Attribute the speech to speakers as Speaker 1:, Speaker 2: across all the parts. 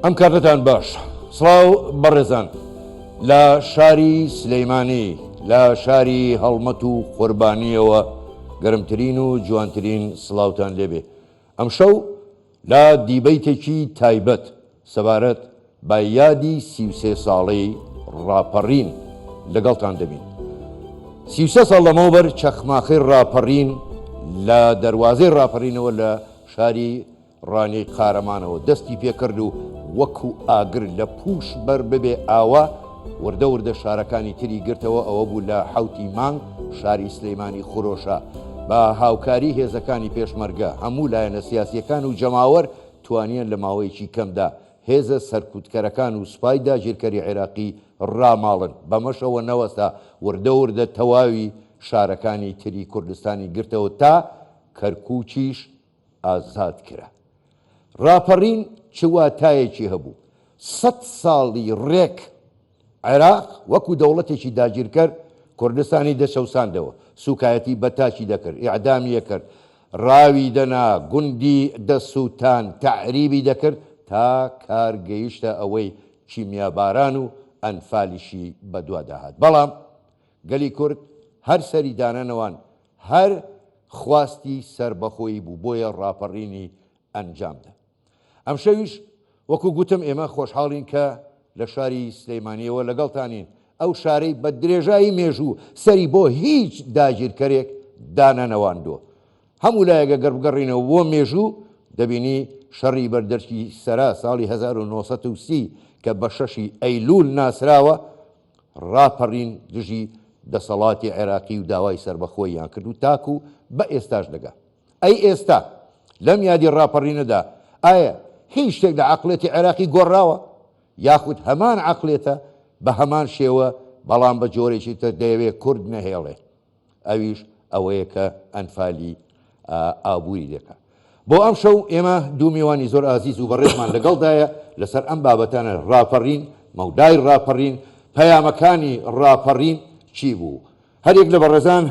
Speaker 1: ئەم کاتتان باش سڵاو بەڕێزان لە شاری سلەیمانی لە شاری هەڵمەت و قوربانیەوە گەرمترین و جوانترین سڵاوتان لێبێ ئەمشەو لە دیبەیتێکی تایبەت سەبارەت بە یادی سی و سێ ساڵەی ڕاپەڕین لەگەڵتان دەبین سی و سێ ساڵ لەمەوبەر چەخماخەی ڕاپەڕین لە دەروازەی ڕاپەڕینەوە لە شاری ڕانیەی قارەمانەوە دەستی پێکرد و وەکو ئاگر لە پووش بەر ببێ ئاوا وردە وردە شارەکانی تری گرتەوە ئەوە بوو لە حەوتی مانگ شاری سلیمانی خرۆشا بە هاوکاری هێزەکانی پێشمەرگە هەموو لایەنە سیاسیەکان و جەماوەر توانیان لە ماوەیەکی کەمدا هێزە سەرکوتکەرەکان و سوپای داگیرکەری عێراقی ڕاماڵن بەمەشەوە نەوەستا وردە وردە تەواوی شارەکانی تری کوردستانی گرتەوە تا کەرکوکیش ئازاد کرا. ڕاپەڕین چ واتایەکی هەبوو؟ سەد ساڵی ڕێک عێراق وەکو دەوڵەتێکی داگیرکەر کوردستانی دەچەوساندەوە، سوکایەتی بە تاکی دەکرد، ئیعدامی دەکرد، ڕاوی دەنا، گوندی دەسوتان، تەعریبی دەکرد تا کار گەیشتە ئەوەی کیمیاباران و ئەنفالیشی بەدوادا هات. بەڵام گەلی کورد هەر سەری دانەنەوان هەر خواستی سەربەخۆیی بوو، بۆیە ڕاپەڕینی ئەنجامدا. ئەمشەویش وەکو گوتم ئێمە خۆشحاڵین کە لە شاری سلێمانییەوە لەگەڵتانین، ئەو شارەی بە درێژایی مێژوو سەری بۆ هیچ داگیرکەرێک دانەنەواندووە. هەموو لایەک ئەگەر بگەڕێینەوە بۆ مێژوو دەبینی شەڕی بەردەرکی سەرا ساڵی هەزار و نۆ سەد و سی کە بە شەشی ئەیلوول ناسراوە ڕاپەڕین دژی دەسەڵاتی عێراقی و داوای سەربەخۆییان کرد و تاکو بە ئێستاش دەگا. ئەی ئێستا لەم یادی ڕاپەڕینەدا ئایا هیچ شتێک لە عەقڵێتی عێراقی گۆڕاوە؟ یاخود هەمان عەقڵێتە بە هەمان شێوە بەڵام بە جۆرێکی تر دەیەوێ کورد نەهێڵێ ئەویش ئەوەیە کە ئەنفالی ئابووری دەکا بۆ ئەم شەو ئێمە دوو میوانی زۆر ئازیز و بەڕێزمان لەگەڵدایە لەسەر ئەم بابەتانە ڕاپەڕین مەودای ڕاپەڕین پەیامەکانی ڕاپەڕین چی بوو هەرێک لە بەڕێزان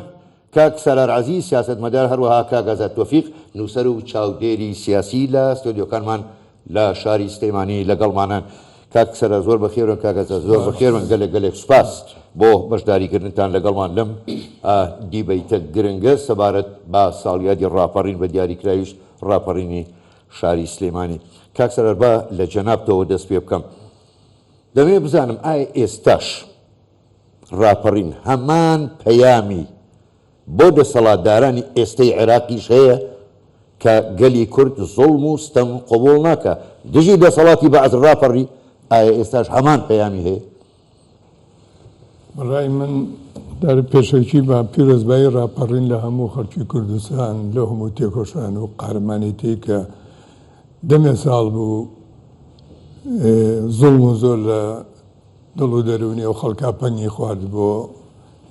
Speaker 1: کاک سالار عزیز سیاست مەدار هەروەها کاگازات تۆفیق نووسەر و چاودێری سیاسی لە ستۆدیۆکانمان لە شاری سلێمانی لەگەڵمانن کاک سەرا زۆر بەخێربن کاک ئەزەت زۆر بەخێربن گەلێک گەلێک سوپاس بۆ بەشداری کردنتان لەگەڵمان لەم دیبەیتە گرنگە سەبارەت بە ساڵیادی ڕاپەڕین بە دیاریکراویش ڕاپەڕینی شاری سلێمانی کاک سەرا با لە جەنابتەوە دەست پێ بکەم دەمەوێت بزانم ئایا ئێستاش ڕاپەڕین هەمان پەیامی بۆ دەسەڵاتدارانی ئێستەی عێراقیش هەیە کە گەلی کورد زوڵم و ستەم قبوڵ ناکا دژی دەسەڵاتی بەعس ڕاپەڕی، ئایا ئێستاش هەمان پەیامی هەیە؟
Speaker 2: بەڕای من دار پێشەکی با پیرۆزبایی ڕاپەڕین لە هەموو خەڵکی کوردستان لەو هەموو تێکۆشان و قارەمانێتی کە دەمێ ساڵ بوو زوڵم و زۆر لە دڵ و دەروونی ئەو خەڵکە پەنگی خوارد بۆ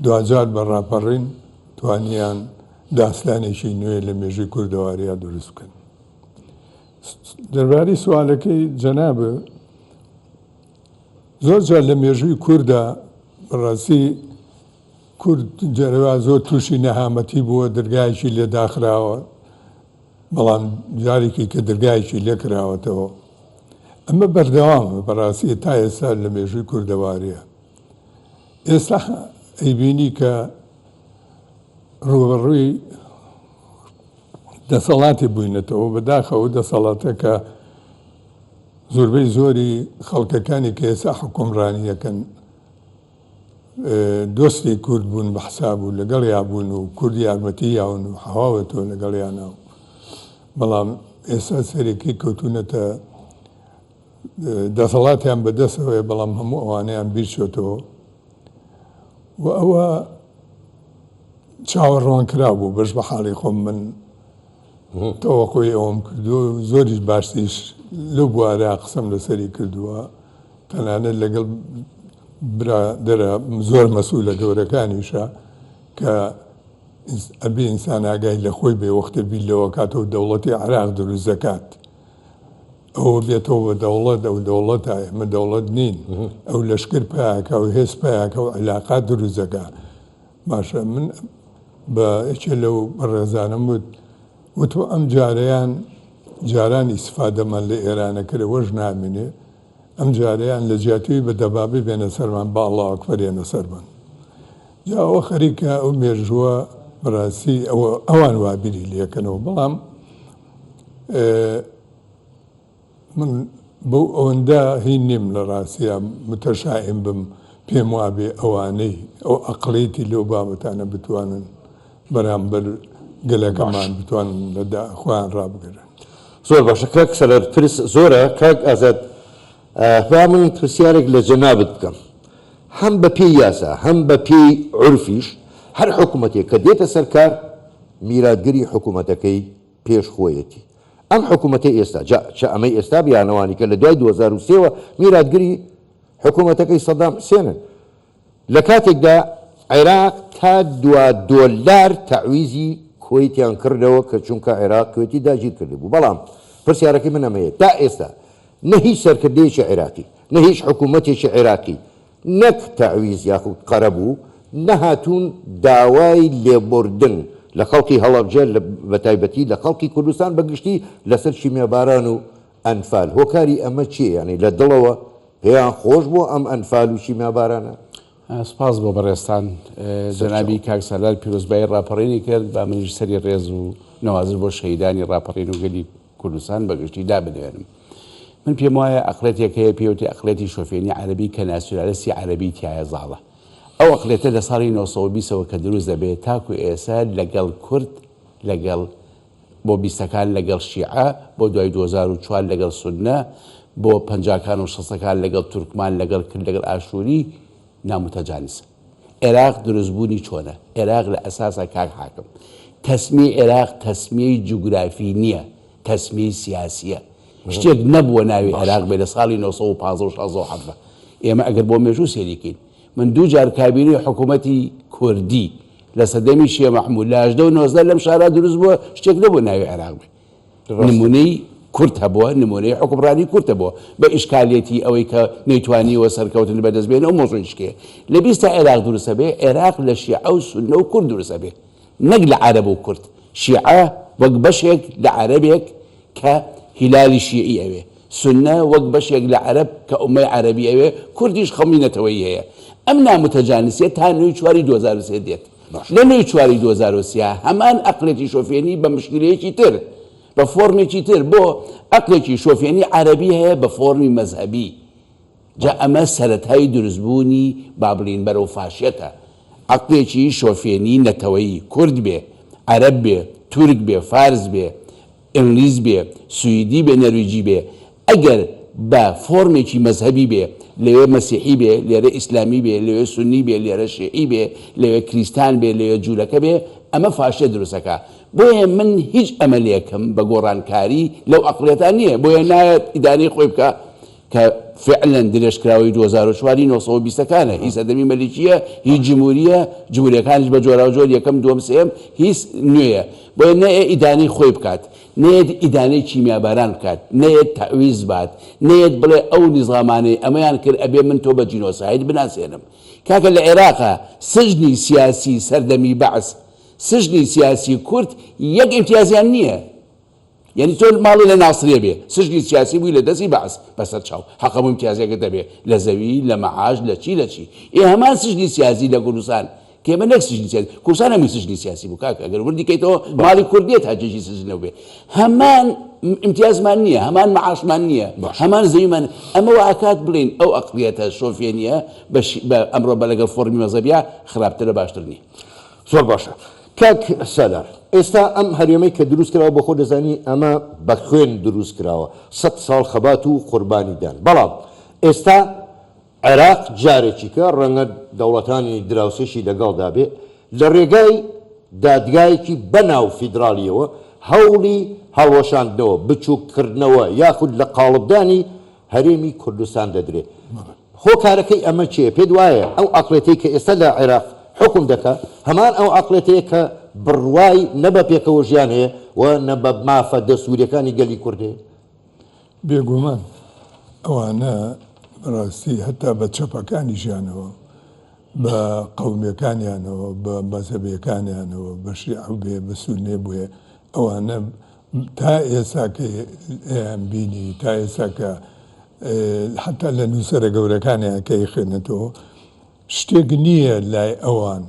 Speaker 2: دواجار بە ڕاپەڕین توانیان داستانێکی نوێ لە مێژووی کوردەواریا دروست بکەن. دەربارەی سوالەکەی جەنابت، زۆر جار لە مێژووی کوردا بەڕاستی کورد جارێوا زۆر تووشی نەهامەتی بووە، دەرگایەکی لێ داخراوە، بەڵام جارێکی کە دەرگایەکی لێ کراوەتەوە ئەمە بەردەوامە بەڕاستی تا ئێستا لە مێژووی کوردەواریە ئێستا ئەیبینی کە ڕوبەڕووی دەسەڵاتی بووینەتەوە بەداخەوە دەسەڵاتە کە زۆربەی زۆری خەڵکەکانی کە ئێستا حکومڕانیەکەن دۆستی کورد بوون بە حساب و لەگەڵیا بوون و کورد یارمەتی یاون و حهوهتۆ لەگەڵیانا و بەڵام ئێستا سەرێکی کەوتوونەتە دەسەڵاتیان بە دەسەوەیە بەڵام هەموو ئەوانەیان بیر چۆتەوە و ئەوە چاوەڕوان کرا بوو بەش بە حاڵی خۆم من تەوەقوی ئەوەم کردووە و زۆریش باشتریش لەو بوارە قسەم لەسەری کردووە، تەنانەت لەگەڵ برادەرە زۆر مەسئولە گەورەکانیشا کە ئەبێ ئینسان ئاگای لە خۆی بێ وەختێ بیر لەوە کاتەوە دەوڵەتی عێراق دروست دەکات ئەوە بێتەوە بە دەوڵەت ئەو دەوڵەتە ئێمە دەوڵەت نین ئەو لەشکر پاکە و هێز پاکە و علاقات دروست دەکا باشە من بە یەکێ لەو بەڕێزانەم وت وتم ئەم جارەیان جاران ئیسفادەمان لە ئێرانە کرد ئەوەش نامینێ ئەم جارەیان لە جیاتیوی بە دەبابی بێنە سەرمان با اللە اکبر یەنە سەرمان جا ئەوە خەریکە ئەو مێژووە بەڕاستی ئەوە ئەوان وابیری لەکەنەوە بەڵام من بەو ئەوەندە هین نیم لە ڕاستیا متەشائیم بم پێم وابێ ئەوانەی ئەو ئەقڵیەتی لەو بابەتانە بتوانن بەرامبەر گەلەکەمان بتوانن لە دا خۆیان ڕابگرن. زۆر باشە
Speaker 1: کاک سەرەر پرس زۆرە کاک ئازاد با من پرسیارێک لە جەنابت بکەم هەم بە پێی یاسا هەم بە پێی عورفیش هەر حکومەتێک کە دێتە سەر کار میراتگری حکومەتەکەی پێش خۆیەتی ئەم حکومەتەی ئێستا جا چ ئەمەی ئێستا بێ یان ئەوانی کە لە دوای دوو هەزار و سێ وە میراتگری حکومەتەکەی سەدام حسێنن لە کاتێکدا عێراق تا دوا دۆلار تەعویزی کوەیتیان کڕدەوە کە چونکە عێراق کوەیتی داگیر کردبوو بەڵام پرسیارەکەی من ئەمەیە تا ئێستا نە هیچ سەرکردەیەکی عێراقی نە هیچ حکومەتێکی عێراقی نەک تەعویز یاخود قەرەبوو نەهاتوون داوای لێبوردن لە خەڵکی هەڵەبجە بەتایبەتی لە خەڵکی کوردستان بەگشتی لەسەر کیمیاباران و ئەنفال هۆکاری ئەمە چیە یانی لە دڵەوە پێیان خۆش بوو ئەم ئەنفال و کیمیابارانە؟ سپاس بۆ
Speaker 3: بەڕێزتان جەنابی کاک سالار پیرۆزبایی ڕاپەڕینی کرد با منیش سەری ڕێز و نەوازش بۆ شەهیدانی ڕاپەڕین و گەلی کوردستان بە گشتی دابنەوێنم. من پێم وایە ئەقڵێتێک هەیە پێوتی ئەقڵێتی شۆفێنی عەرەبی کە ناسیونالستی عەرەبی تیایە زاڵە. ئەو ئەقڵێتە لە ساڵی نۆ سەد و بیست ەوە کە دروست دەبێت تاکو ئێسە لە گەڵ کورد لە گەڵ بۆ بیستەکان لە گەڵ شیعە بۆ دوای دوو هەزار و چوار لە گەڵ سوننە بۆ پەنجاکان و شەستەکان لە گەڵ تورکمان لە گەڵ کرد لە گەڵ ئاشوری ناموتەجانس عێراق دروست بوونی چۆنە عێراق لە ئەساسا کاک حاکم تەسمیەی عێراق تەسمیەی جوگرافی نیە تەسمیەی سیاسیە شتێک نەبووە ناوی عێراق بێ لە ساڵی نۆ سەد و پازدە و شازدە و حەڤدە ئێمە ئەگەر بۆ مێژوو سێری کەین من دوو جار کابینەی حکوومەتی کوردی لە سەدەمی شێ مەحموود لە هەژدە و نۆزدە لەم شارا دروست بووە شتێک نەبووە ناوی عێراق بێ نمونەی کورد هەبووە، نمونەی حوکمڕانی کورد هەبووە، بە ئیشکالیەتی ئەوەی کە نەیتوانیوە سەرکەوتن بەدەست بێنێ و مەوزوعی شکێ. لە بیست تا عێراق دروست ئەبێ، عێراق لە شیعە و سوننە و کورد دروست ئەبێ، نەک لە عەرەب و کورد. شیعە وەک بەشێک لە عەرەبێک کە هیلالی شیعی ئەوێ، سوننە وەک بەشێک لە عەرەب کە ئوممەی عەرەبی ئەوێ، کوردیش خەمی نەتەوەیی هەیە. ئەم ناموتەجانسیە تا نۆی چواری دوو هەزار و سێ دێت. لە نۆی چواری دوو هەزار و سێ هەمان ئەقڵێتی شۆفێنی بە مشکلەیەکی تر بە فۆرمێکی تر بۆ ئەقڵێکی شۆفێنی عەرەبی هەیە بە فۆرمی مەزهەبی جا ئەمە سەرەتای دروست بوونی با بڵێین بەرەو فاشیەتە ئەقڵێکی شۆفێنی نەتەوەیی کورد بێ عەرەب بێ تورک بێ فارس بێ ئینگلیز بێ، سویدی بێ، نەرویجی بێ، ئەگەر بە فۆرمێکی مەزهەبی بێ، لەوێ مەسیحی بێ، لێرە ئیسلامی بێ، لەوێ سوننی بێ، لێرە شیعی بێ، لەوێ کریستان بێ، لەوێ جوولەکە بێ، ئەمە فاشیە دروست ئەکا. بۆیە من هیچ ئەمەلێکم بە گۆڕانکاری لەو ئەقڵیەتە نیە، بۆیە نایەت ئیدانەی خۆی بکا، کە فعلەن درێژکراوەی دوو هەزار و چوار ی نۆ سەد و بیست ەکانە، هی سەردەمی مەلیکییە، هی جمورییە، جمورییەکانیش بە جۆراوجۆر یەکەم، دووەم، سێیەم، هی نوێیە، بۆیە نەیە ئیدانەی خۆی بکات، نەیەت ئیدانەی کیمیاباران بکات، نەیەت تەعویز بات، نەیەت بڵێ ئەو نیزامانەی ئەمەیان کرد ئەبێ من تۆ بە جینۆساید بناسێنم. کاکە لە عێراقا سجنی سیاسی سەردەمی بەعس، سجنی سیاسی کورد یەک ئیمتیازیان نییە. یانی تۆ ماڵی لە ناسریە بێ سجنی سیاسی بوی لە دەسی بەعس بە سەر چاو حەقە بۆ امتیازێکت نەبێ لە زەوی لە مەعاش لە چی لە چی ئێ هەمان سجنی سیاسی لە کوردستان کێمە نەک سجنی سیاسی کوردستان هەموی سجنی سیاسی بو کاکە گەر وردی کەیتەوە ماڵی کورد نیە تا جێژی سجن نەبێ هەمان امتیازمان نیە هەمان مەعاشمان نیە باشە هەمان زەویمان ئەمە وا ئەکات بڵێین ئەو ئەقڵیەتە شۆفێنیە بە شی بە ئەمڕۆ بە لەگەڵ فۆڕمی مەزەبیا خراپترە باشتر نیە. زۆر باشە
Speaker 1: کاک سالار ئێستا ئەم هەرێمەی کە دروست کراوە بۆ خۆ دەزانی ئەمە بە خوێن دروست کراوە سەد ساڵ خەبات و قوربانی دان بەڵام ئێستا عێراق جارێکیکە ڕەنگە دەوڵەتانی دراوسێشی لەگەڵدا بێ لە ڕێگای دادگایەکی بە ناو فیدراڵیەوە هەوڵی هەڵوەشاندنەوە بچووک کردنەوە یاخود لە قاڵبدانی هەرێمی کوردستان دەدرێ. هۆکارەکەی ئەمە چیە؟ پێت وایە ئەو عەقڵێتەی کە ئێستا لە عێراق حوکم دەکا هەمان ئەو عەقڵێتەیە کە بڕوای نە بە پێکەوە ژیان هەیە و نە بە مافە دەستووریەکانی گەلی کورد هەیە؟
Speaker 2: بێگومان ئەوانە بەڕاستی هەتا بە چەپەکانیشیانەوە، بە قەومیەکانیانەوە، بە مەزەبیەکانیانەوە، بە شیعە بێ، بە سوننێ بێ ئەوانە، تا ئێستا کە ئێیان بینی تا ئێستا کە حەتا لە نووسەرە گەورەکانیان کە ئەیخوێنێتەوە شتێک نییە لای ئەوان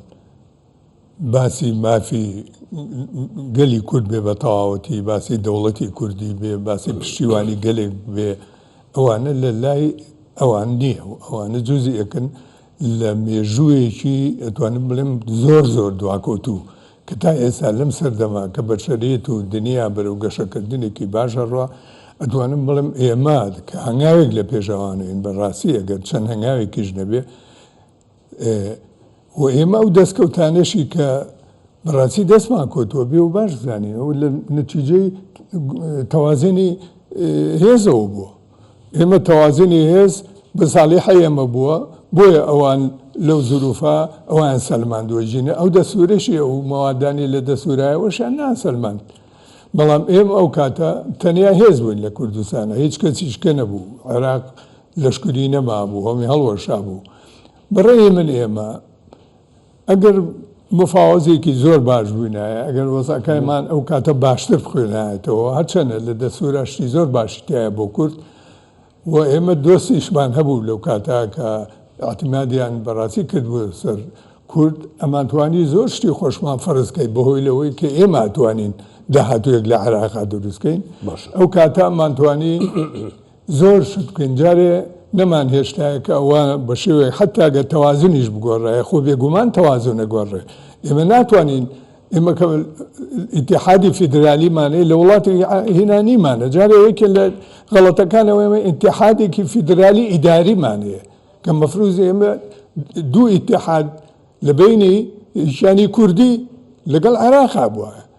Speaker 2: باسی مافی گەلی کورد بێ بە تەواوەتی باسی دەوڵەتی کوردی بێ باسی پشتیوانی گەلێک بێ ئەوانە لە لای ئەوان نییە و ئەوانە جزئێکن لە مێژوویەکی ئەتوانم بڵێم زۆر زۆر دواکەوتوو کە تا ئێستا لەم سەردەمە کە بەشەریەت و دنیا بەرەو گەشەکردنێکی باش ئەڕوا ئەتوانم بڵێم ئێمە کە هەنگاوێک لە پێشەوانوین بە ڕاستی ئەگەر چەند هەنگاوێکیش نەبێ و ئێمە ئەو دەستکەوتانێشی کە بەڕاستی دەستمان کۆتووە بێ و باش زانین و لە نەتیجەی تەوازێنی هێزەوە بووە. ئێمە تەوازنی هێز بە ساڵیحە ئێمە بووە بۆیە ئەوان لەو زروفە ئەویان سەلماندوە ژینە ئەو دەسورەشی ئەو مەوادانی لە دەسورایەوەشیان ناسەلماند بەڵام ئێمە ئەو کاتە تەنیا هێز بووین لە کوردستانە هیچ کەسیش کە نەبوو عێراق لەشکری نەمابوو هەمی هەڵوەشابوو بەڕێی من ئێمە ئەگەر مفاوەزێکی زۆر باش بوینایە، ئەگەر وەزعەکایمان ئەو کاتە باشتر بخوێنایەتەوە، هەرچەنە لە دەستورا شتی زۆر باشی تیایە بۆ کورد و ئێمە دۆستیشمان هەبوو لەو کاتە کە ئیعتیمادیان بەڕاستی کردبوە سەر کورد، ئەمانتوانی زۆر شتی خۆشمان فەرز کەین بەهۆی لەوەی کە ئێمە ئەتوانین داهاتویەک لە عێراقا دروست کەین، ئەو کاتە ئەمانتوانی. زۆر شت بکەین جارێ نەمان هێشتایە کە ئەوە بەشێوەیەک حەتا گەر تەوازنیش بگۆڕرایە خۆ بێگومان تەوازن ئەگۆڕێ ئێمە ناتوانین ئێمە کە ئیتحادی فیدرالیمانەیە لە وڵاتی هینا نیمانە جارێ یەکێ لە غەڵەتەکانەوە ئێمە ئینتحادێکی فیدرالی ئیداریمانەیە کە مەفروز ئێمە دوو ئیتحاد لە بینی شانی کوردی لەگەڵ عێراقا بووە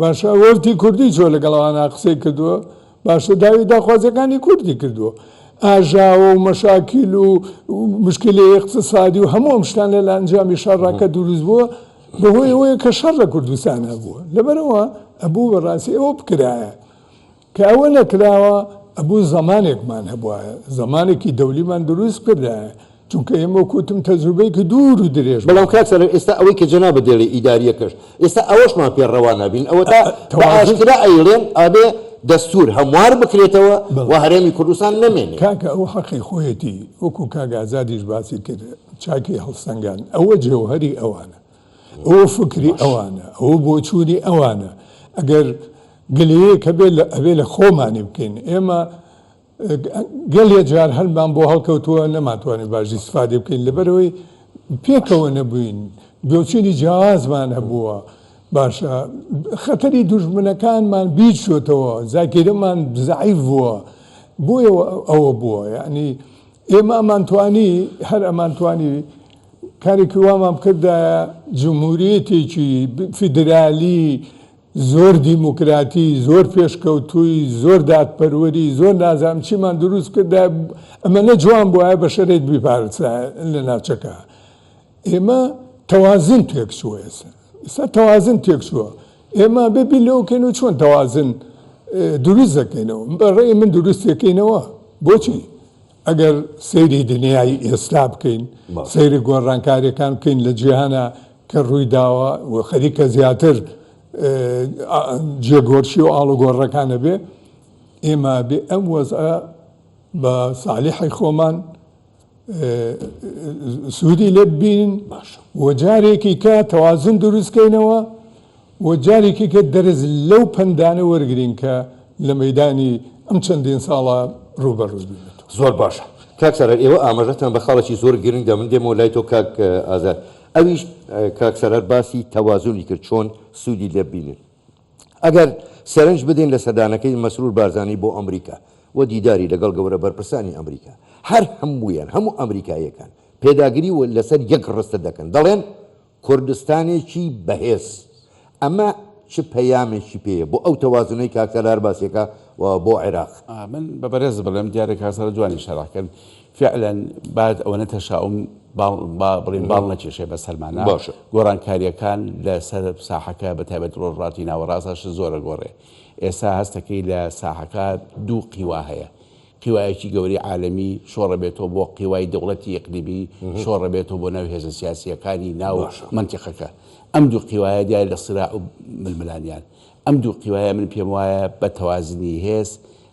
Speaker 2: باشە ئەوە وتی کوردی چۆ لەگەڵ ئەوانە قسەی کردووە باشە داوی داخوازیەکانی کوردی کردووە ئاژاوە و مەشاکیل و مشکلی اقتصادی و هەموو ئەم شتانە لە ئەنجامی شەڕەکە دروست بووە بەهۆی ئەوەیە کە شەڕ لە کوردستانە بووە لەبەرەوە ئەبوو بەڕاستی ئەوە بکرایە کە ئەوە نەکراوە ئەبوو زەمانێکمان هەبوایە زەمانێکی دەولیمان دروست بکردایە چونکە ئێمە وەکو وتم تەجروبەیەکی دوور و درێژمان بەڵام کاک سالم ئێستا
Speaker 1: ئەوەی کە جەنابت دەیڵێ ئیداریەکەش ئێستا ئەوەشمان پێ ڕەوا نابین ئەوەتا بە ئاشکرا ئەیڵێن ئەبێ دەستور هەموار بکرێتەوە و هەرێمی کوردستان نەمێنێ. کاکە ئەو حەقی
Speaker 2: خۆیەتی وەکو کاک ئازادیش باسی کرد چاکی هەڵسەنگاند ئەوە جەوهەری ئەوانە ئەوە فکری ئەوانە، ئەوە بۆچوونی ئەوانە، ئەگەر گلەیەک هەبێت ئەبێت لە خۆمانی بکەین، ئێمە گەلێ جار هەلمان بۆ هەڵکەوتووە نەمانتوانی باش ئیستفادەی بکەین لەبەرئەوەی پێکەوە نەبووین، بۆچوونی جیاوازمان هەبووە، باشە خەتەری دوژمنەکانمان بیرچۆتەوە، زاکیرەمان زەعیف بووە، بۆیە ئەوە بووە، یەعنی. ئێمە ئەمانتوانی، هەر ئەمانتوانی کارێکی وامان بکردایە جمهوریەتێکی فیدرالی زۆر دیموکراتی، زۆر پێشکەوتووی، زۆر دادپەروەری، زۆر نازانم چیمان دروست بکردایە، ئەمەنە جوان بوایە بە شەرێک بیپارێزرایە لە ناوچەکە. ئێمە تەوازن تێکچووە ئێستا. ئێستا تەوازن تێکچووە. ئێمە بێ بیر لەوە کەین و چۆن تەوازن دروست دەکەینەوە بە ڕێی من دروست دەکەینەوە بۆچی ئەگەر سەیری دنیای ئێستا بکەین سەیری گۆڕانکاریەکان بکەین لە جیهانە کە ڕووی داوە و خەریکە زیاتر جێگۆرشی و ئاڵوگۆڕەکانە بێ ئێمە بێ ئەم وەزە بە سالیحی خۆمان سوودی لێ ببینین و جارێکی کە تەوازن دروستکەینەوە و جارێکی کە دەرز لەو پەندانە وەرگین کە لە مەدانی ئەم چەندین ساڵە ڕوبەڕووی زۆر باشە
Speaker 1: کاکسەرەر ئێوە ئاماژەتان بە خاڵێکی زۆر گرنگە من دێمەوە لای تۆ کاک ئازاد ئەویش کاکسەرەر باسی تەوازنی کرد چۆن سوودی لێ ببینن ئەگەر سەرنج بدەین لە سەردانەکەی مەسرور بارزانی بۆ ئەمریکا و دیداری لەگەڵ گەورە بەرپرسانی ئەمریکا، هەر هەموویان، هەموو ئەمریکاییەکان پێداگری و لەسەر یەک ڕستە دەکەن، دەڵێن کوردستانێکی بەهێز. ئەمە چ پەیامێکی پێیە بۆ ئەو تەوازنەی کاک تەلار باسیەکا
Speaker 3: و
Speaker 1: بۆ
Speaker 3: عێراق؟ من بە بەرێز
Speaker 1: بڵێم
Speaker 3: دیارە کاک تەلار
Speaker 1: جوانی
Speaker 3: شەرح
Speaker 1: کرد.
Speaker 3: فعلا با ئەوەنە تەشاوم با بڵێین باڵ نەکێشێ بە سەرمانا، گۆڕانکارییەکان لە سەر ساحەکە بە تایبەت ڕۆژهەڵاتی ناوەڕاستش زۆر ئەگۆڕێ. ئێستا هەستەکەی لە ساحەکە دوو قیوا هەیە. قیوایەکی گەورەی عالەمی شۆڕەبێتەوە بۆ قیوای دەوڵەتی ئیقلیمی شۆڕەبێتەوە بۆ ناو هێزە سیاسییەکانی ناو مەنتیقەکە. ئەم دوو قیوایە دیارە لە سیراع و ململانێیان. ئەم دوو قیوایە من پێم وایە بە تەوازنی هێز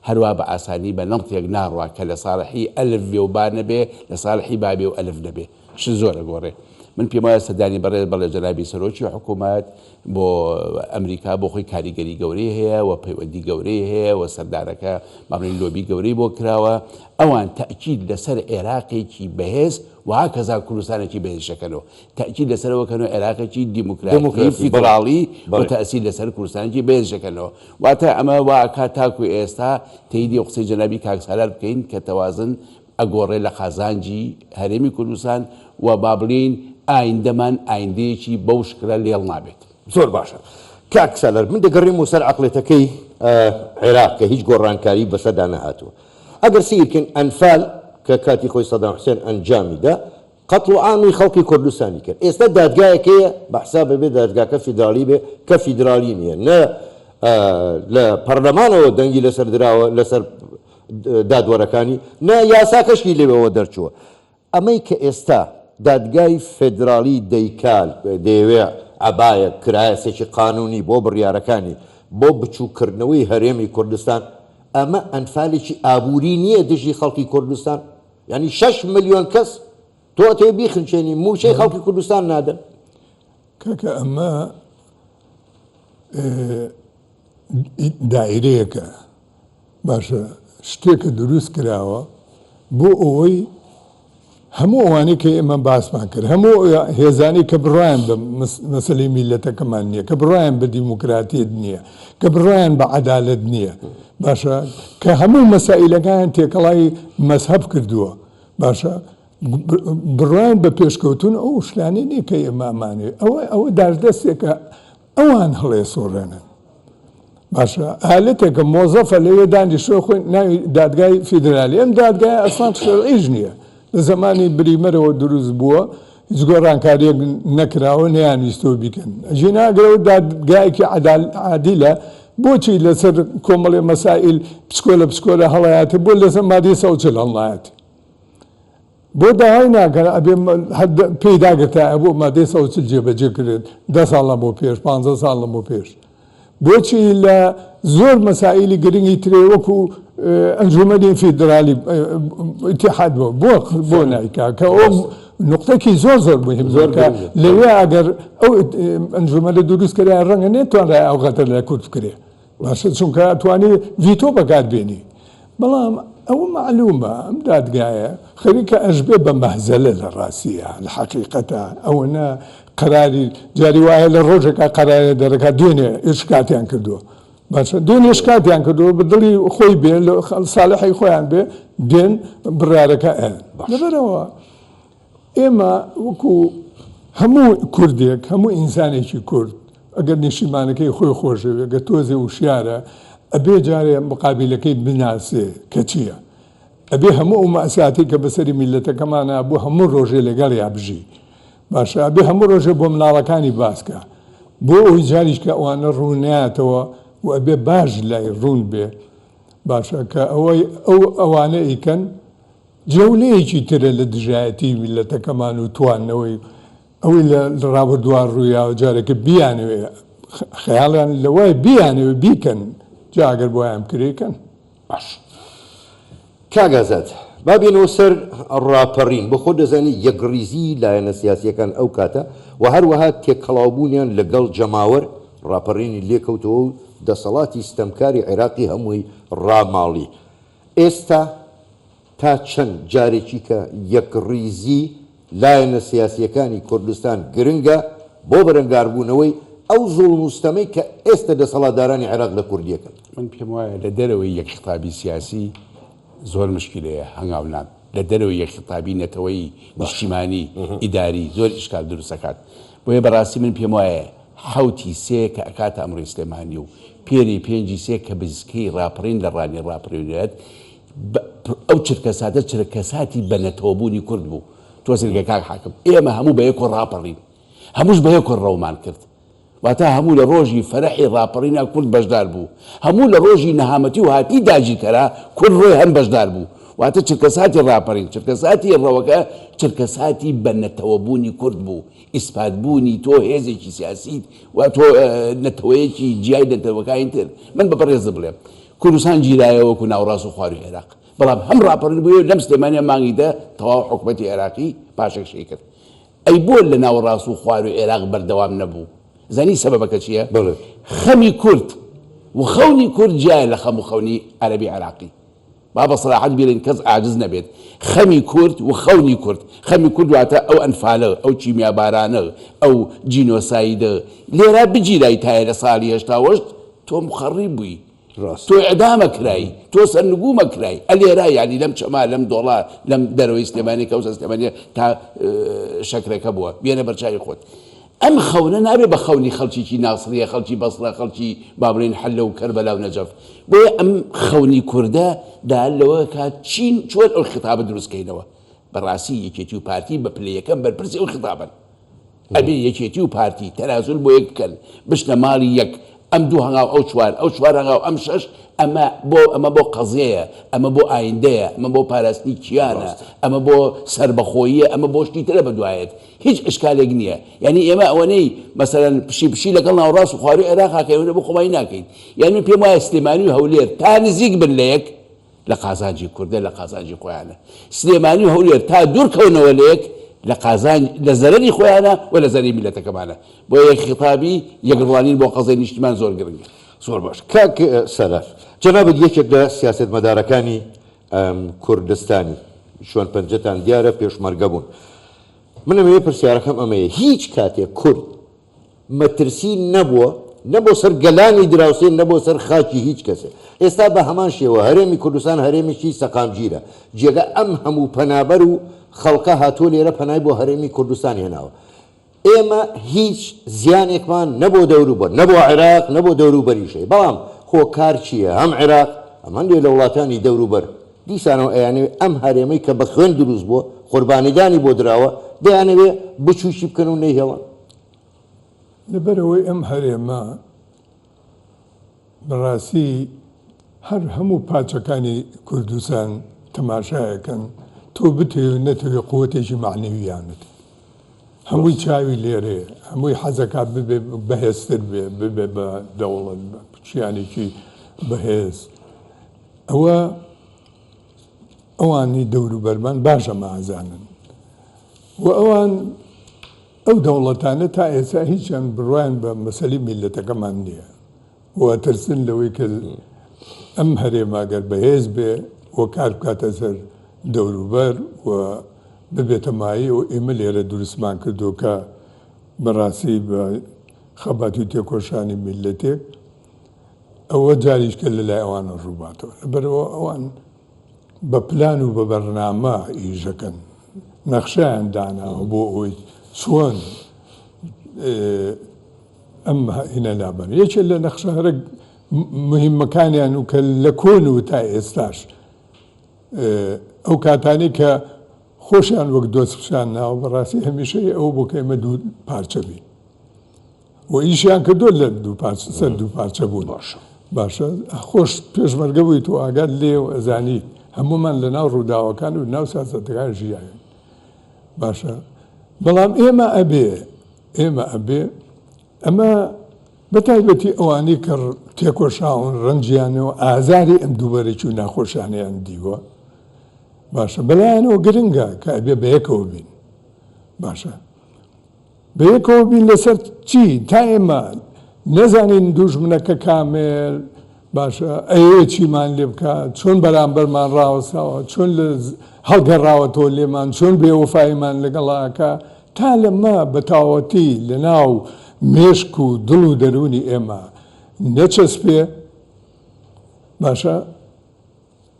Speaker 3: هەروا بە ئاسانی بە نەمتێک ناڕوا کە لە ساڵحی ئەلف بێ و با نەبێ، لە ساڵحی با بێ و ئەلف نەبێ. شت زۆر ئەگۆڕێ. من پێم وایە سەردانی بەڕێز بەڵێ جەنابی سەرۆکی حکوومەت بۆ ئەمریکا بۆ خۆی کاریگەری گەورەی هەیە و پەیوەندی گەورەی هەیە و سەردانەکە با بڵێین لۆبی گەورەی بۆ کراوە. ئەوان تەئکید لە سەر عێراقێکی بەهێز و هاکەزا کوردستانێکی بەهێز شەکەنەوە. تەئکید لە سەر ئەوە کەنەوە عێراقێکی دیموکراتی فیدراڵی و تەئسیر لە سەر کوردستانێکی بەهێز شەکەنەوە. واتە ئەمە وا ئەکات تاکو ئێستا تەییدی قسەی جەنابی کاک سالار بکەین کە تەوازن ئەگۆڕێ لە قازانجی هەرێمی کوردستان و با بڵێین ئایندەمان ئایندەیەکی بەو شکلە لێڵ نابێت. زۆر باشە
Speaker 1: کاک سالار من دەگەڕێمەوە سەر عەقڵێتەکەی عێراق کە هیچ گۆڕانکاری بەسەردا نەهاتووە. ئەگەر سەیرکەین ئەنفال کە کاتی خۆی سەدام حسێن ئەنجامی دا قەتڵ و عامی خەڵکی کوردستانی کرد ئێستا دادگایەک هەیە بەحساب ئەبێ دادگاکە فیدراڵی بێ کە فیدراڵی نیە نە لە پەڕلەمانەوە دەنگی لەسەر دراوە لەسەر دادوەرەکانی نە یاساکەشی لێوەوە دەرچووە ئەمەی کە ئێستا دادگای فیدراڵی دەیکال دەیەوێ عەبایە کرایەسێکی قانونی بۆ بڕیارەکانی بۆ بچووکردنەوەی هەرێمی کوردستان ئەمە ئەنفالێکی ئابووری نییە دژی خەڵکی کوردستان یانی شەش ملیۆن کەس تۆ ئەتەوێ بیخنچێنی مووچەی خەڵکی کوردستان نادەن کەکە
Speaker 2: ئەمە دایرەیەکە باشە شتێکە دروست کراوە بۆ ئەوەی هەموو ئەوانەی کە ئێمە باسمان کرد هەموو هێزانەی کە بڕایان بە مەسلی میلەتەکەمان نییە کە بڕایان بە دیموکراتیت نییە کە بڕوایان بە عەدالەت نییە باشە کە هەموو مەسائیلەکان تێکەڵای مەزهەب کردووە باشە بڕوایان بە پێشکەوتون ئەو شتانەی نییە کە ئێمە ئەمانەوێت ئەوە ئەوە داردەستێکە ئەوان هەڵێسوڕێنن باشە ئالەتێکە مۆزەفە لەوێ دانیشتوە خۆی ناوی دادگای فیدرالی ئەم دادگای ئەسان شەرعیش نییە لە زمانی بریمەرەوە دروست بووە هیچ گۆڕانکاریەک نەکراوە نەیانویستوە بیکەن جینا ئەگەر ئەوە دادگایەکی عادیلە بۆچی لەسەر کۆمەڵێ مەسائیل پسکۆلە پسکۆلە هەڵەیاتێ بۆ لەسەر مادەی سەد و چل هەڵنایەتێ بۆ داوای ناکەن ئەبێ پێی داگرتایە بۆ مادەی سەد و چل جێبەجێ کرێت دە ساڵ لەمەو پێش پانزە ساڵ لەمەو پێش بۆچی لە زۆر مەسائیلی گرنگی ترێ وەکو ئەنجومەنی فیدرالی ئیتیحاد بۆ بۆ بۆ نایکا کە ئەو نقطەکی زۆر زۆر مهم زۆر کە لەوێ ئەگەر ئەو ئەنجومەنە دروست کرا ڕەنگە نێتوانرا ئەو غەدر لە کورد بکرێ باشە چونکە ئەتوانی ڤیتۆ بەکار بێنی بەڵام ئەوە معلومە ئەم دادگایە خەریکە ئەشبێ بە مەهزەلە لە ڕاستیە لە حەقیقەتە ئەوەنە قەراری دیاری وایە لە ڕۆژێکا قەرارێ دەرەکا دوێنێ شکاتیان کردووە باشە دوێنێ شکاتیان کردووە بە دڵی خۆی بێ لە ساڵحی خۆیان بێ دێن بڕارەکە ئەیان لەبەرەوە ئێمە وەکو هەموو کوردێک هەموو ئینسانێکی کورد ئەگەر نیشیمانەکەی خۆی خۆشەوێ گە تۆزێ وشیارە ئەبێ جارێ مقابلەکەی بناسێ کە چییە ئەبێ هەموو ئەو مەساتی کە بەسەری میلەتەکەمانە بۆ هەموو ڕۆژێ لەگەڵ یا بژی باشە ئەبێ هەموو ڕۆژێ بۆ مناڵەکانی باسکە بۆ ئەوی جاریش کە ئەوانە ڕووناتەوە و ئەبێ باش لای ڕوون بێ باشە کە ئەوەی ئەو ئەوانە ئیکەن جەولەیەکی ترە لە دژایەتی میلەتەکەمان و توانەوەی ئەوەی لە ڕابردووار ڕوویا و جارێکە بیانوێ خەیاڵیان لەوای بیانوێ بیکەن جاگەر بۆیان کرێکەن باش
Speaker 1: کاک ئازاد با بێنەوە سەر ڕاپەڕین بۆ خۆت دەزانی یەکڕیزی لایەنە سیاسیەکان ئەو کاتە و هەروەها تێکەڵاو بوونیان لە گەڵ جەماوەر ڕاپەڕینی لێ کەوتەوە و دەسەڵاتی ستەمکاری عێراقی هەمووی ڕاماڵی ئێستا تا چەند جارێکیکە یەکڕیزی لایەنە سیاسییەکانی کوردستان گرنگە بۆ بەرەنگاربوونەوەی ئەو زوڵم و ستەمەی کە ئێستە دەسەڵاتدارانی عێراق لە کورد یەکەن. من پێم وایە لە
Speaker 3: دەرەوەی یەک خیتابی سیاسی زۆر مشکیلەیە هەنگاونان لە دەرەوەی یەک خیتابی نەتەوەیی، نیشتیمانی، ئیداری زۆر ئیشکال دروست ئەکات. بۆیە بە ڕاستی من پێم وایە حەوتی سێ کە ئەکاتە ئەمڕۆی سلێمانی و پێری پێنجی سێ کە بزکەی ڕاپەڕین لە ڕانیە ڕاپەرێونێت بە ئەو چرکەساتە چرکەساتی بە نەتەوەبوونی کورد بوو تۆزێ گە کاک حاکم ئێمە هەموو بە یەکۆ ڕاپەڕین هەمووش بە یەکۆ ڕەومان کرد واتا هەموو لە ڕۆژی فەرحی ڕاپەڕینا کورد بەشدار بوو هەموو لە ڕۆژی نەهامەتی و هاتنی داگیرکەرا کورد ڕێ هەن بەشدار بوو واتا چرکەساتی ڕاپەڕین چرکەساتی ڕەوەکە چرکەساتی بە نەتەوەبوونی کورد بوو ئیسپات بوونی تۆ هێزێکی سیاسیت و تۆ نەتەوەیەکی جیای نەتەوەکانی تر من بە بەڕێزت بڵێم کوردستان گیرایەوە وەکو ناوڕاست و خواروی عێراق، بەڵام هەم ڕاپەڕین بووی و لەم سلێمانیە مانگی دە تەواو حکومەتی عێراقی پاشەکشەی کرد. ئەی بۆ لە ناوەڕاست و خواروی عێراق بەردەوام نەبوو؟ زانی سەبەبەکە چیە؟ خەمی کورد و خەونی کورد جیایە لە خەم و خەونی عەرەبی عێراقی. با بە سەراحەت بیڵێین کەس عاجز نەبێت. خەمی کورد و خەونی کورد. خەمی کورد واتە ئەو ئەنفالە، ئەو کیمیابارانە، ئەو جینۆسایدە. لێرا بگیرای تایە لە ساڵی هەشتا و هەشت، تۆ مخەڕیب بووی ڕاست. تۆ ئیعدامە کرای تۆ سەرنگوومە کرای ئەلێرا یانی لەم چەما لەم دۆڵا لەم دەرەوەی سلێمانی کەوسە سلێمانیە تا شەکرەکە بووە بێنە بەرچاوی خۆت ئەم خەونە نابێ بە خەونی خەڵکیکی ناسڕیە خەڵکی بەسڕە خەڵکی با بڵێن حەلە و کەربەلا و نەجەف بۆیە ئەم خەونی کوردە دال لەوە کا چین چۆن ئەو خیتابە دروست کەینەوە بەڕاسی یەکێتی و پارتی بە پلە یەکەم بەرپرسی ئەو خیتابەن. ئەبێ یەکێتی و پارتی تەنازول بۆ یەک بکەن بچنە ماڵی یەک ئەم دوو هەنگاو ئەو چوار ئەو چوار هەنگاو ئەم شەش ئەمە بۆ ئەمە بۆ قەزیەیە ئەمە بۆ ئایندەیە ئەمە بۆ پاراستنی کیانە ئەمە بۆ سەربەخۆییە ئەمە بۆ شتی ترە بەدوایەت هیچ ئیشکالێک نییە یانی ئێمە ئەوەنەی مەسەلەن پشی پشی لەگەڵ ناوەڕاست و خواروی عێراق ئاکەین ئەوەنە بۆ خۆمانی ناکەین یانی من پێم وایە سلێمانی و هەولێر تا نزیک بن لە یەک لە قازانجی کوردە لە قازانجی خۆیانە سلێمانی و هەولێر تا دوور کەونەوە لە یەک لە قازانج لە زەرەری خۆیانە و لە زەرەری میلەتەکەمانە بۆیە یەک خیتابی یەک ڕوانین بۆ قەزای نیشتیمان زۆر گرنگە. زۆر باش کاک
Speaker 1: سەرار جەنابت یەکێک لە سیاسەتمەدارەکانی کوردستانی شوێن پەنجەتان دیارە پێشمەرگە بوون من ئەمەوێ پرسیارەکەم ئەمەیە هیچ کاتێک کورد مەترسی نەبووە، نە بۆ سەر گەلانی دراوسێ، نە بۆ سەر خاکی هیچ کەسێ. ئێستا بە هەمان شێوە هەرێمی کوردستان هەرێمێکی سەقامگیرە. جێگە ئەم هەموو پەنابەر و خەڵکە هاتووە لێرە پەنای بۆ هەرێمی کوردستان هێناوە. ئێمە هیچ زیانێکمان نە بۆ دەوروبەر، نە بۆ عێراق، نە بۆ دەوروبەریش هەیە. بەڵام هۆکار چییە؟ هەم عێراق، هەم هەندێ لە وڵاتانی دەوروبەر. دیسانەوە ئەیانەوێ ئەم هەرێمەی کە بە خوێن دروست بووە، قوربانیدانی بۆ دراوە، دەیانەوێ بچووکی بکەن و نەیهێڵن. لەبەرئەوەی
Speaker 2: ئەم هەرێمە بە ڕاستی هەر هەموو پارچەکانی کوردستان تەماشایەکەن، تۆ بتەوێ نەتەوێ قوتێکی مەعنەوییانت هەیە. هەمووی چاوی لێرەیە، هەمووی حەزەکا ببێ بەهێزتر بێ، ببێ بە دەوڵەت، بە کیانێکی بەهێز. ئەوە ئەوانی دەوروبەرمان باش ئەمە ئەزانن و ئەوان ئەو دەوڵەتانە تا ئێسا هیچیان بڕوایان بە مەسەلی میلەتەکەمان نییە و ترسن لەوەی کە ئەم هەرێماگەر بەهێز بێ و کار بکاتە سەر دەوروبەر و ببێتە مایە و ئێمە لێرە دروستمان کردو کە بەڕاستی بە خەباتی تێکۆشانی میلەتێک ئەوە جاریشکە لە لای ئەوانەوە ڕووباتەوە لەبەرئەوە ئەوان بە پلان و بە بەرنامە ئیش دەکەن نەخشەیان داناوە بۆ ئەوەی چۆن ئەم هەینە لابەن یەکێ لە نەخشە هەرە مهمەکانیان و کە لە کۆن و تا ئێستاش ئەو کاتانی کە خۆشیان وەک دۆست پیشان ناوە بەڕاستی هەمیشەی ئەو بۆ کەمە دوو پارچە بین و ئیشیان کردوە لە دوو پارچە سەر دوو پارچە بوون باشە باشە خۆش پێشمەرگە بوویت و ئاگات لێ و ئەزانیت هەموومان لە ناو ڕووداوەکان و ناو سیاسەتەکان ژیاوین باشە بەڵام ئێمە ئەبێ ئێمە ئەبێ ئەمە بەتایبەتی ئەوانەی کە تێکۆشاون ڕەنجیانەوە ئازاری ئەم دووبەرەکی و ناخۆشانیان دیوە باشە بەلایەنەوە گرنگە کە ئەبێ بەیەکەوە بین باشە بەیەکەوە بین لەسەر چی تا ئێمە نەزانین دووژمنەکە کامەیەر باشە ئەیەوێت چیمان لێ بکات چۆن بەرامبەرمان ڕاوەستاوە چۆن لە هەڵگەڕاوەتەوە لێمان چۆن بێوەفایمان لەگەڵاکە تا لەمە بەتاوەتی لەناو مێشک و دڵ و دەروونی ئێمە نەچەسپێ باشە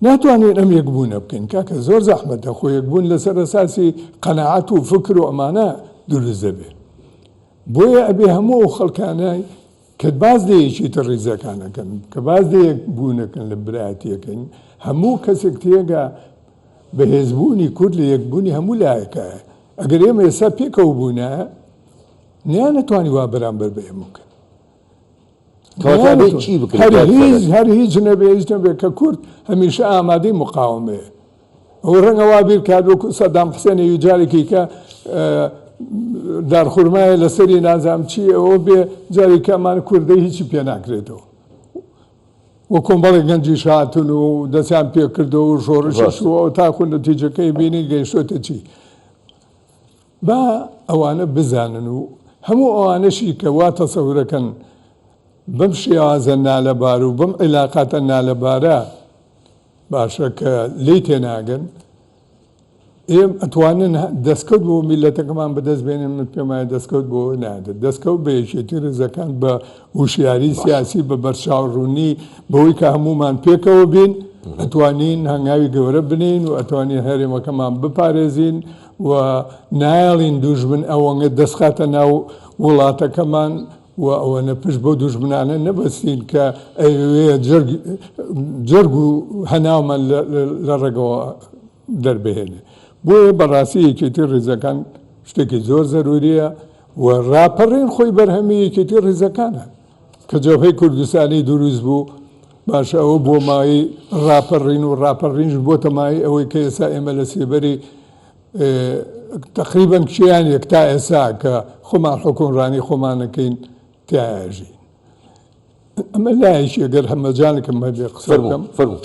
Speaker 2: ناتوانین ئەم یەکبوونە بکەین کاکە زۆر زەحمەتە خۆ یەکبوون لەسەر ئەساسی قەناعەت و فکر و ئەمانە دروست دەبێ بۆیە ئەبێ هەموو ئەو خەڵکانە کە باس لە یەکێتی ڕیزەکان ئەکەن کە باس لە یەکبوون ئەکەن لە برایەتی ئەکەن هەموو کەسێک تێگا بەهێزبوونی کورد لە یەکبوونی هەموو لایەکایە ئەگەر ئێمە ئێستا پێکەوە بوونایە نیان نەتوانی وا بەرامبەر بە ئێمە بکەن کەواتە ئەبێ چی بکرێ کاک سەمەد؟ هەر هیچ هەر هیچ نەبێ هیچ نەبێ کە کورد هەمیشە ئامادەی مقاوەمەیە ئەوە ڕەنگە وا بیر کات وەکو سەدام حسێن ئەوی جارێکی کە دارخورمایە لەسەری نازام چی ئەوە بێ جاری کەمان کوردە هیچی پێ ناکرێتەوە و کۆمەڵی گەنجی شاتون و دەستیان پێکردەوە و ڕاست شۆڕشیش و تاکو نەتیجەکەی بینی گەیشتۆتە چی با ئەوانە بزانن و هەموو ئەوانەشی کە وا تەسەورەکەن بەم شێوازە نالەبار و بەم عیلاقاتە نالەبارە باشە کە لێی تێناگەن ئێم ئەتوانن دەستکەوت بۆ میلەتەکەمان بەدەست بێنن من پێم وایە دەستکەوت بۆ نادرێت دەستکەوت بە یەکێتی رزەکان بە وشیاری سیاسی بە بەرچاوڕوونی بەوەی کە هەمومان پێکەوە بین ئەتوانین هەنگاوی گەورە بنین و ئەتوانین هەرێمەکەمان بپارێزین و نایەڵین دوژمن ئەوەنگە دەستخاتە ناو وڵاتەکەمان و ئەوەنە پشت بەو دوژمنانە نەبەستین کە ئەیەوێ جەرگ و هەناومان لە ڕێگەوە دەربهێنێ. بۆیە بەڕاستی یەکێتی ڕیزەکان شتێکی زۆر زەروریە و ڕاپەڕین خۆی بەرهەمی یەکێتی ڕیزەکانە. کە جەبهەی کوردستانی دروست بوو، باشە ئەوە بووە مایەی ڕاپەڕین و ڕاپەڕینیش بووەتە مایەی ئەوەی کە ئێستا ئێمە لە سێبەری تەقریبەن کێیانێک تا ئێستا کە خۆمان حوکمڕانی خۆمان ئەکەین تیایا ئەژین. ئەمە لایەکی ئەگەر هەمەجالێکم هەبێ قسە بکەم. فەرموو.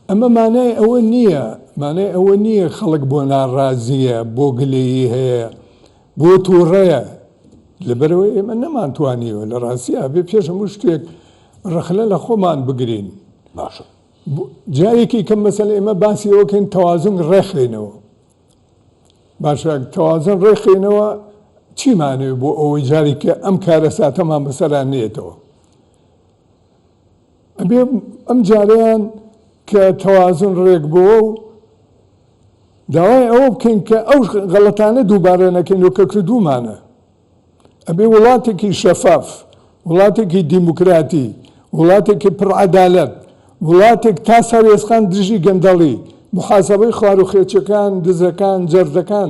Speaker 2: ئەمە مانای ئەوە نییە، مانای ئەوە نییە خەڵک بۆ ناڕازییە، بۆ گلەیی هەیە، بۆ توڕەیە لەبەرئەوەی ئێمە نەمانتوانیوە لەڕاستی ئەبێ پێش هەموو شتێک ڕەخنە لە خۆمان بگرین باشە
Speaker 1: جایەکی
Speaker 2: کەم مەسەل ئێمە باسی ئەوکەین تەوازن ڕێخەینەوە باشە تەوازن ڕێخەینەوە چیمانەوێ بۆ ئەوەی جارێکە ئەم کارە ساتەمان بەسەران نێتەوە ئەبێ ئەم جارەیان کە تەوازن ڕێک بۆوە و داوای ئەوە بکەین کە ئەو غەڵەتانە دووبارە نەکەینەوە کە کردوومانە. ئەبێ وڵاتێکی شەفاف، وڵاتێکی دیموکراتی، وڵاتێکی پڕ عەدالەت، وڵاتێک تا سەر ئێسقان دژی گەندەڵی، موحاسەبەی خواروخێچەکان، دزەکان، جەردەکان،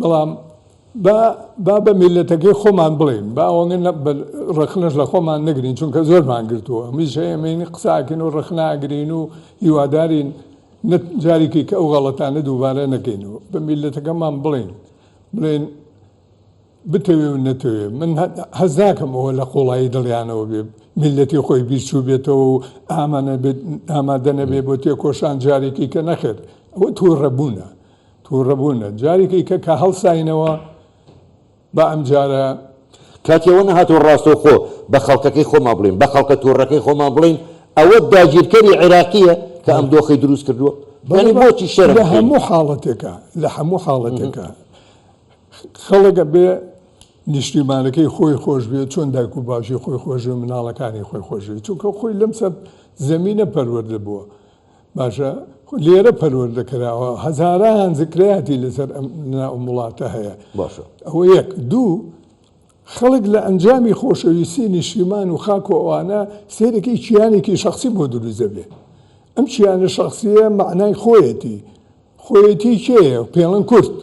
Speaker 2: بەڵام با با بە میللەتەکەی خۆمان بڵێین با ئەوەنگە نە بە ڕەخنەش لە خۆمان نەگرین چونکە زۆرمان گرتووە هەمیشە ئێمەین قسە ئەکەین و ڕەخنە ئەگرین و هیوادارین نە جارێکی کە ئەو غەڵەتانە دووبارە نەکەین و بە میللەتەکەمان بڵێین بڵێن بتەوێ و نەتەوێ من هەست ناکەم ئەوە لە قوڵایی دڵیانەوە بێ میللەتی خۆی بیرچوو بێتەوە و ئامانە بێت ئامادە نەبێ بۆ تێکۆشان جارێکی کە نەخێر ئەوە تووڕەبوونە توڕە بوون جاریکی کە کە هەڵساینەوە با ئەم جارە. کاتی ئەوە
Speaker 1: نەهاتووە ڕاستەوخۆ بە خەڵکەکەی خۆمان بڵێین، بە خەڵکە توڕەکەی خۆمان بڵێین ئەوە داگیرکەری عێراقییە کە ئەم دۆخەی دروست کردووە؟ یانی بۆچی شەرم بکەین؟ لە هەموو حاڵەتێکا،
Speaker 2: لە هەموو حاڵەتێکا خەڵک ئەبێ نیشتیمانەکەی خۆی خۆش بوێت، چۆن دایک و باوکی خۆی خۆش بوێت، مناڵەکانی خۆی خۆش بوێت، چونکە خۆی لەم سەر زەمینە پەروەردە بووە. باشە لێرە پەروەردە کراوە هەزاران زکرەیاتی لەسەر نا ئەم وڵاتە هەیە باشە ئەوە یەک
Speaker 1: دوو
Speaker 2: خەڵک لە ئەنجامی خۆشەویستی نیشتیمان و خاک و ئەوانە سێرەکی کیانێکی شخصی بۆ دروست دەبێ ئەم کیانە شخصیە معنای خۆیەتی خۆیەتی کێیە پێڵن کورد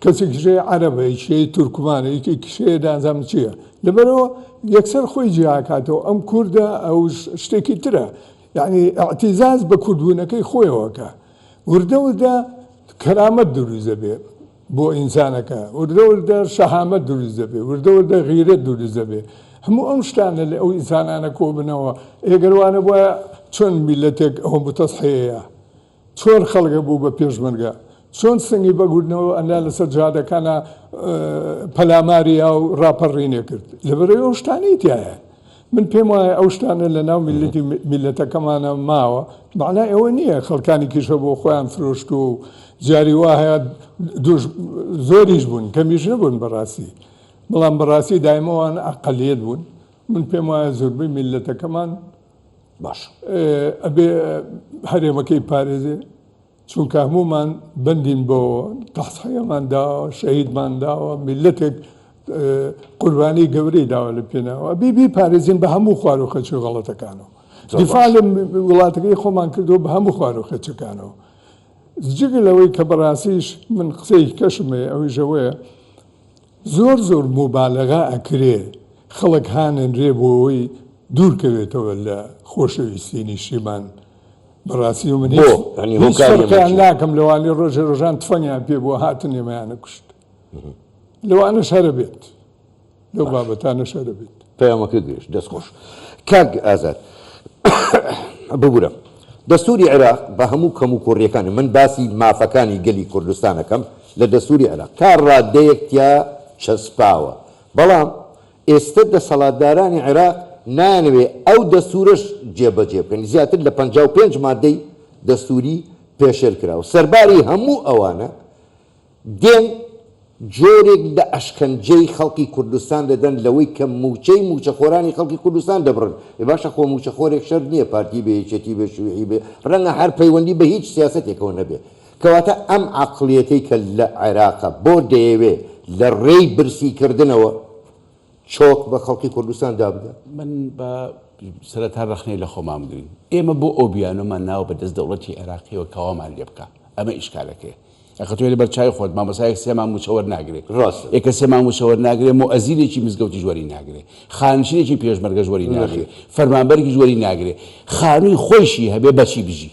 Speaker 2: کەسی کشێ عەرەبە کشێ تورکمانە یکی کشێ دانزام چییە لەبەرەوە یەکسەر خۆی جیاکاتەوە ئەم کوردە ئەو شتێکی ترە یەعنی ئیعتیزاز بە کوردبوونەکەی خۆیەوە کە وردە وردە کەرامەت دروست دەبێ بۆ ئینسانەکە، وردە وردە شەهامەت دروست دەبێ، وردە وردە غیرەت دروست دەبێ، هەموو ئەم شتانە لە ئەو ئینسانانە کۆبنەوە، ئێگەر وا نەبوایە چۆن میللەتێک ئەوە موتەسحیەیە؟ چۆن خەڵک ئەبوو بە پێشمەرگە چۆن سنگی بە گوردنەوە ئەنا لەسەر جادەکانا پەلاماری ئاو ڕاپەڕین ئەکرد لەبەرەوەی ئەو شتانەی تیایە من پێم وایە ئەو شتانە لە ناو میللەتی میللەتەکەمانە ماوە مەعنای ئەوە نییە خەڵکانی کیشە بۆ خۆیان فرۆشتووە و جاری وا هەیە دوژ زۆریش بوون کەمیش نەبوون بەڕاستی بەڵام بەڕاستی دایمەوان ئەقەلیەت بوون من پێم وایە زۆربەی میللەتەکەمان باشە
Speaker 1: ئەبێ
Speaker 2: هەرێمەکەی بپارێزێ چونکە هەموومان بەندین بەوەوە تەسحیەمان داوە شەهیدمان داوە میلەتێک قوربانی گەورەی داوە لە پێناوە ئەبێ بیپارێزین بە هەموو خوار و خەچی غەڵەتەکانەوە دیفاع لە وڵاتەکەی خۆمان کردو بە هەموو خوار و خەچەکانەوە جگە لەوەی کە بەڕاستیش من قسەی کەشم هەیە ئەویش ئەوەیە زۆر زۆر موبالەغە ئەکرێ خەڵک هانەنرێ بۆ ئەوەی دوور کەوێتەوە لە خۆشەویستی نیشتیمان بەڕاستی من هیچ هیچ فەرقیان ناکەم لەوانەیە ڕۆژێ ڕۆژان تفەنگیان پێ بووە هاتن ئێمەیانە کوشت لەوانەش هەرە بێت لەو بابەتانەش هەرە بێت. پەیامەکەت گەیشت دەست
Speaker 1: خۆش. کاک ئازاد ببورە دەستوری عێراق بە هەموو کەم و کوڕیەکانی من باسی مافەکانی گەلی کوردستان ئەکەم لە دەستوری عێراق تا ڕادەیەک تیا چەسپاوە بەڵام ئێستە دەسەڵاتدارانی عێراق نایانەوێ ئەو دەستورەش جێ بەجێ بکەن زیاتر لە پەنجا و پێنج مادەی دەستوری پێشێل کراوە سەرباری هەموو ئەوانە دێن جۆرێک لە ئەشکەنجەی خەڵکی کوردستان دەدەن لەوەی کە مووچەی مووچەخۆرانی خەڵکی کوردستان دەبڕن، ئێ باشە خۆ مووچەخۆرێک شەرت نییە پارتی بێ، یەکێتی بێ، شیوعی بێ، ڕەنگە هەر پەیوەندی بە هیچ سیاسەتێکەوە نەبێ. کەواتە ئەم عەقڵیەتەی کە لە عێراقە بۆ دەیەوێ لە ڕێی برسیکردنەوە، چۆک بە خەڵکی کوردستان دابدەن. من با
Speaker 3: سەرەتا ڕەخنەی لە خۆمان بگرین. ئێمە بۆ ئەو بیانووەمان ناوە بە دەست دەوڵەتی عێراقییەوە کە وامان لێ بکا. ئەمە ئیشکالەکەیە. ئاخر تۆ لە بەر چاوی خۆت مامۆستایەک سێ مانگ مووچە وەرناگرێ. ڕاستە. ئێ کە سێ مانگ
Speaker 1: مووچە
Speaker 3: وەرناگرێ، موئەزینێکی مزگەوتیش وەری ناگرێ. خانشینێکی پێشمەرگەش وەری ناگرێ. فەرمانبەرێکیش وەری ناگرێ. خانووی خۆیشی هەبێ بە چی بژی؟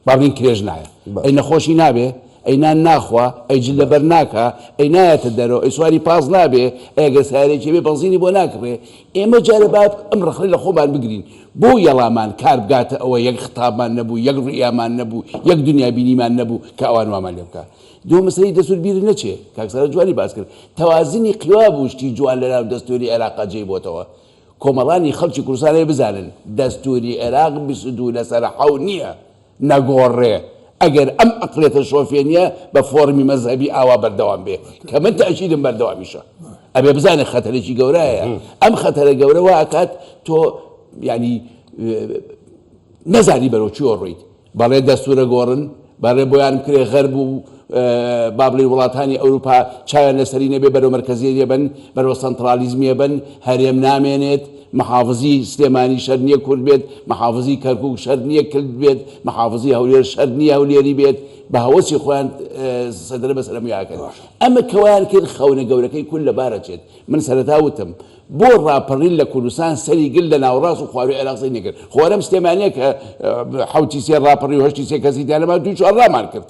Speaker 3: بەڕنگ کرێژ نایە ئەی نەخۆشی نابێ ئەی نان ناخوا ئەی جل لەبەر ناکا ئەی نایەتە دەرەوە ئەی سواری پاس نابێ ئەی ئەگەر سەیارەیەکی بێ بەنزینی بۆ ناکڕێ ئێمە جارێ با ئەم ڕەخنە لە خۆمان بگرین بۆ یەڵامان کار بگاتە ئەوە یەک ختابمان نەبوو یەک ڕوئیامان نەبوو یەک دنیا بینیمان نەبوو کە ئەوان وامان لێ بکا دووەم مەسەلەی دەستور بیر نەچێ کاک سەرەج جوانی باس کرد تەوازنی قوا بوو شتی جوان لەناو دەستوری عێراقا جێی بۆتەوە کۆمەڵانی خەڵکی کوردستان ئەوێ بزانن دەستووری عێراق بیست و دوو لەسەر حەوت نییە نەگۆڕێ، ئەگەر ئەم عەقڵیەتە شۆفێنیە بە فۆڕمی مەزهەبی ئاوا بەردەوام بێ کە من تەئکیدم بەردەوامیشە ئەبێ بزانێ خەتەرێکی گەورایە ئەم خەتەرە گەورە وا ئەکات تۆ یانی نەزانی بەرەو کوێ ڕۆیت. بەڵێ دەستورە گۆڕن، بەڵێ بۆیان بکرێ غەرب و با بڵێین وڵاتانی ئەوروپا چاویان لەسەری نەبێ بەرەو مەرکەزیەتیە بەن، بەرەو سەنترالیزمیە بەن، هەرێم نامێنێت، محافزی سلێمانی شەرت نیە کورد بێت، محافزی کەرکوک شەرت نیە کلد بێت، محافزی هەولێر شەرت نیە هەولێری بێت، بە هەوەسی خۆیان سەدرە بەسەرەمویاکەن. ئەمە کەوایان کرد خەونە گەورەکەی کورد لەبارەچێت. من سەرەتا وتم. بۆ ڕاپەڕین لە کوردستان سەری گرت لە ناوەڕاست و خواروی عێراق سەری نەکرد خۆرەم سلێمانیە کە حەوتی سێ ڕاپەڕی و هەشتی سێ کەسی تیا نەما دووی چوار ڕامان کرد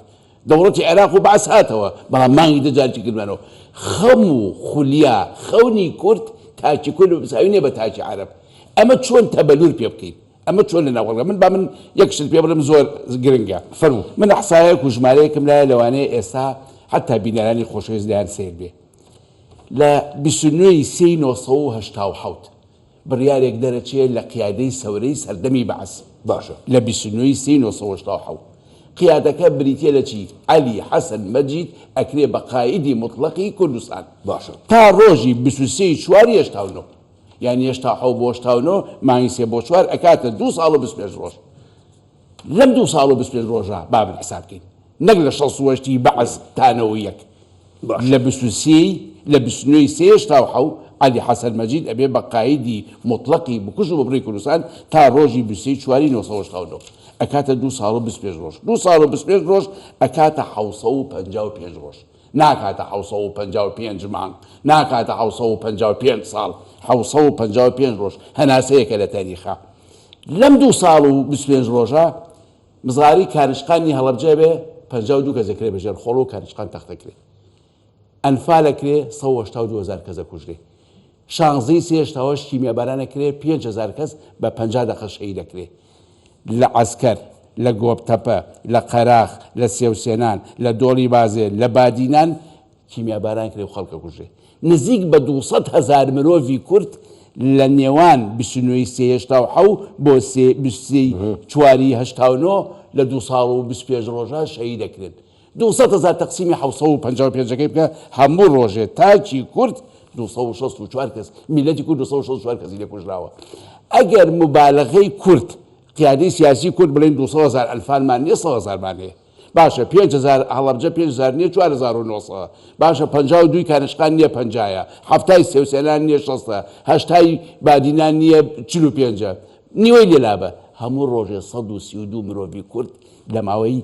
Speaker 3: دەوڵەتی عێراق و بەعس هاتەوە بەڵام مانگی دە جارکی کردمانەوە خەم و خولیا خەونی کورد تاکی کورد بە مساوی نیە بە تاکی عەرەب ئەمە چۆن تەبەلور پێ بکەین ئەمە چۆن لە ناوەڕگە من با من یەک شت پێ بڵێم زۆر گرنگە فەرمو من حسایەک و ژمارەیەکم لایە لەوانەیە ئێستا حەتا بینەرانی خۆشەویست لایان سەیر بێ لە بیست و نۆ ی سێ ی نۆ سەد و هەشتا و حەوت بڕیارێک دەرەچێ لە قیادەی سەورەی سەردەمی بەعس باشە لە بیست
Speaker 1: و نۆ ی سێ
Speaker 3: ی نۆ سەد و هەشتا و حەوت قیادەکە بریتیە لە چی عەلی حەسەن مەجید ئەکرێ بە قائیدی موتڵەقی کوردستان باشە تا
Speaker 1: ڕۆژی بیست
Speaker 3: و سێ ی چوار ی هەشتا و نۆ یانی هەشتا و حەوت بۆ هەشتا و نۆ مانگی سێ بۆ چوار ئەکاتە دوو ساڵ و بیست و پێنج ڕۆژ لەم دوو ساڵ و بیست پێنج ڕۆژە با بن حساب کەین نەک لە شەست و هەشت ی بەعس تا نەوەد و یەک باش. لە بیست و سێ ی لە بیست و نۆ ی سێ هێشتا و حەو عەلی حەسەن مەجید ئەبێ بە قایدی موتڵەقی بکوژ و ببڕی کوردستان تا ڕۆژی بیست و سێ ی چوار ی نۆ سەد و هەشتا و نۆ ئەکاتە دوو ساڵ و بیست پێنج ڕۆژ دوو ساڵ و بیست پێنج ڕۆژ ئەکاتە حەوت سەد و پەنجا و پێنج ڕۆژ ناکاتە حەوت سەد و پەنجا و پێنج مانگ، ناکاتە حەوت سەد و پەنجا و پێنج ساڵ، حەوت سەد و پەنجا و پێنج ڕۆژ هەناسەیەکە لە تەریخا. لەم دوو ساڵ و بیست و پێنج ڕۆژە مزغاری کانشقانی هەڵەبجە بێ پەنجا و دوو کەس ئەکرێ بە ژێر خۆڵ و کانشقان تەختە کرێ. ئەنفالە کرێ سەد و هەشتا و دوو هەزار کەس ئەکوژرێ. شانزی سێ شتەوەش کیمیاباران ئەکرێ پێنج هەزار کەس بە پەنجا دەقە شەهید ئەکرێ لە عەسکەر لە گۆپتەپە لە قەراخ لە سێوسێنان لە دۆڵی بازێ لە بادینان کیمیاباران کرێ و خەڵک ئەکوژرێ نزیک بە دوو سەد هەزار مرۆڤی کورد لە نێوان بیست و نۆی سێ هەشتا و حەو بۆ سێ بیست و سێی چواری هەشتا و نۆ لە دوو ساڵ و بیست و پێنج ڕۆژە شەهید ئەکرێن دوو سەد هەزار تەقسیمی حەوت سەد و پەنجا و پێنجەکەی بکە هەموو ڕۆژێ تاکی کورد دوو سەد و شەست و چوار کەس میلەتی کورد دوو سەد و شەست و چوار کەسی لێ کوژراوە ئەگەر موبالەغەی کورد قیادەی سیاسی کورد بڵێن دوو سەد هەزار ئەلفانمان نیە سەد هەزارمان هەیە باشە پێنج هەزار هەڵەبجە پێنج هەزار نیە چوار هەزار و نۆ سەد باشە پەنجا و دووی کانشقان نیە پەنجایە حەفتای سێوسێنان نیە شەستە هەشتای بادینان نیە چل و پێنجە نیوەی لێ لابە هەموو ڕۆژێ سەد و سی و دوو مرۆڤی کورد لە ماوەی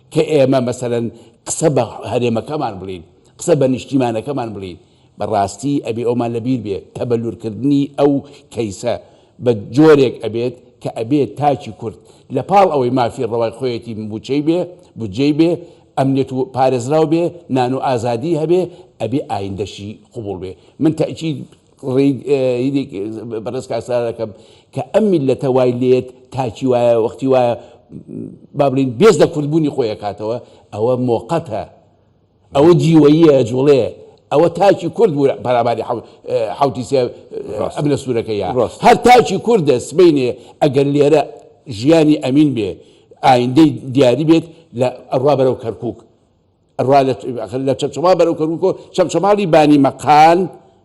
Speaker 3: کە ئێمە مەسەلەن قسە بە هەرێمەکەمان بڵێین، قسە بە نیشتیمانەکەمان بڵێین، بە ڕاستی ئەبێ ئەومان لە بیر بێ، تەبەلور کردنی ئەو کەیسە بە جۆرێک ئەبێت کە ئەبێ تاکی کورد لە پاڵ ئەوەی مافی ڕەوای خۆیەتی مووچەی بێ، بودجەی بێ، ئەمنیەت و پارێزراو بێ، نان و ئازادیی هەبێ، ئەبێ ئایندەشی قبووڵ بێ. من تەئکید ڕێیدیک بەڕێز کاک سالار دەکەم کە ئەم میللەتە وای لێت تاکی وایە وەختی وایە بابلین بێز لە کوردبوونی خۆی ئەکاتەوە ئەوە مۆقەتە ئەوە جیوەیە جوڵێ ئەوە تاکی کورد بوو بەراماری حوتی سێ ئەم لە سوورەکە یا هەر تاکی کوردە سبینێ ئەگەر لێرە ژیانی ئەمین بێ ئایندەی دیاری بێت لە ئەڕوا بەرەو کەرکک ئەوا لە چەمچەماڵ بەرەو کەرکوکەوە چەمچەماڵی بانی مەقان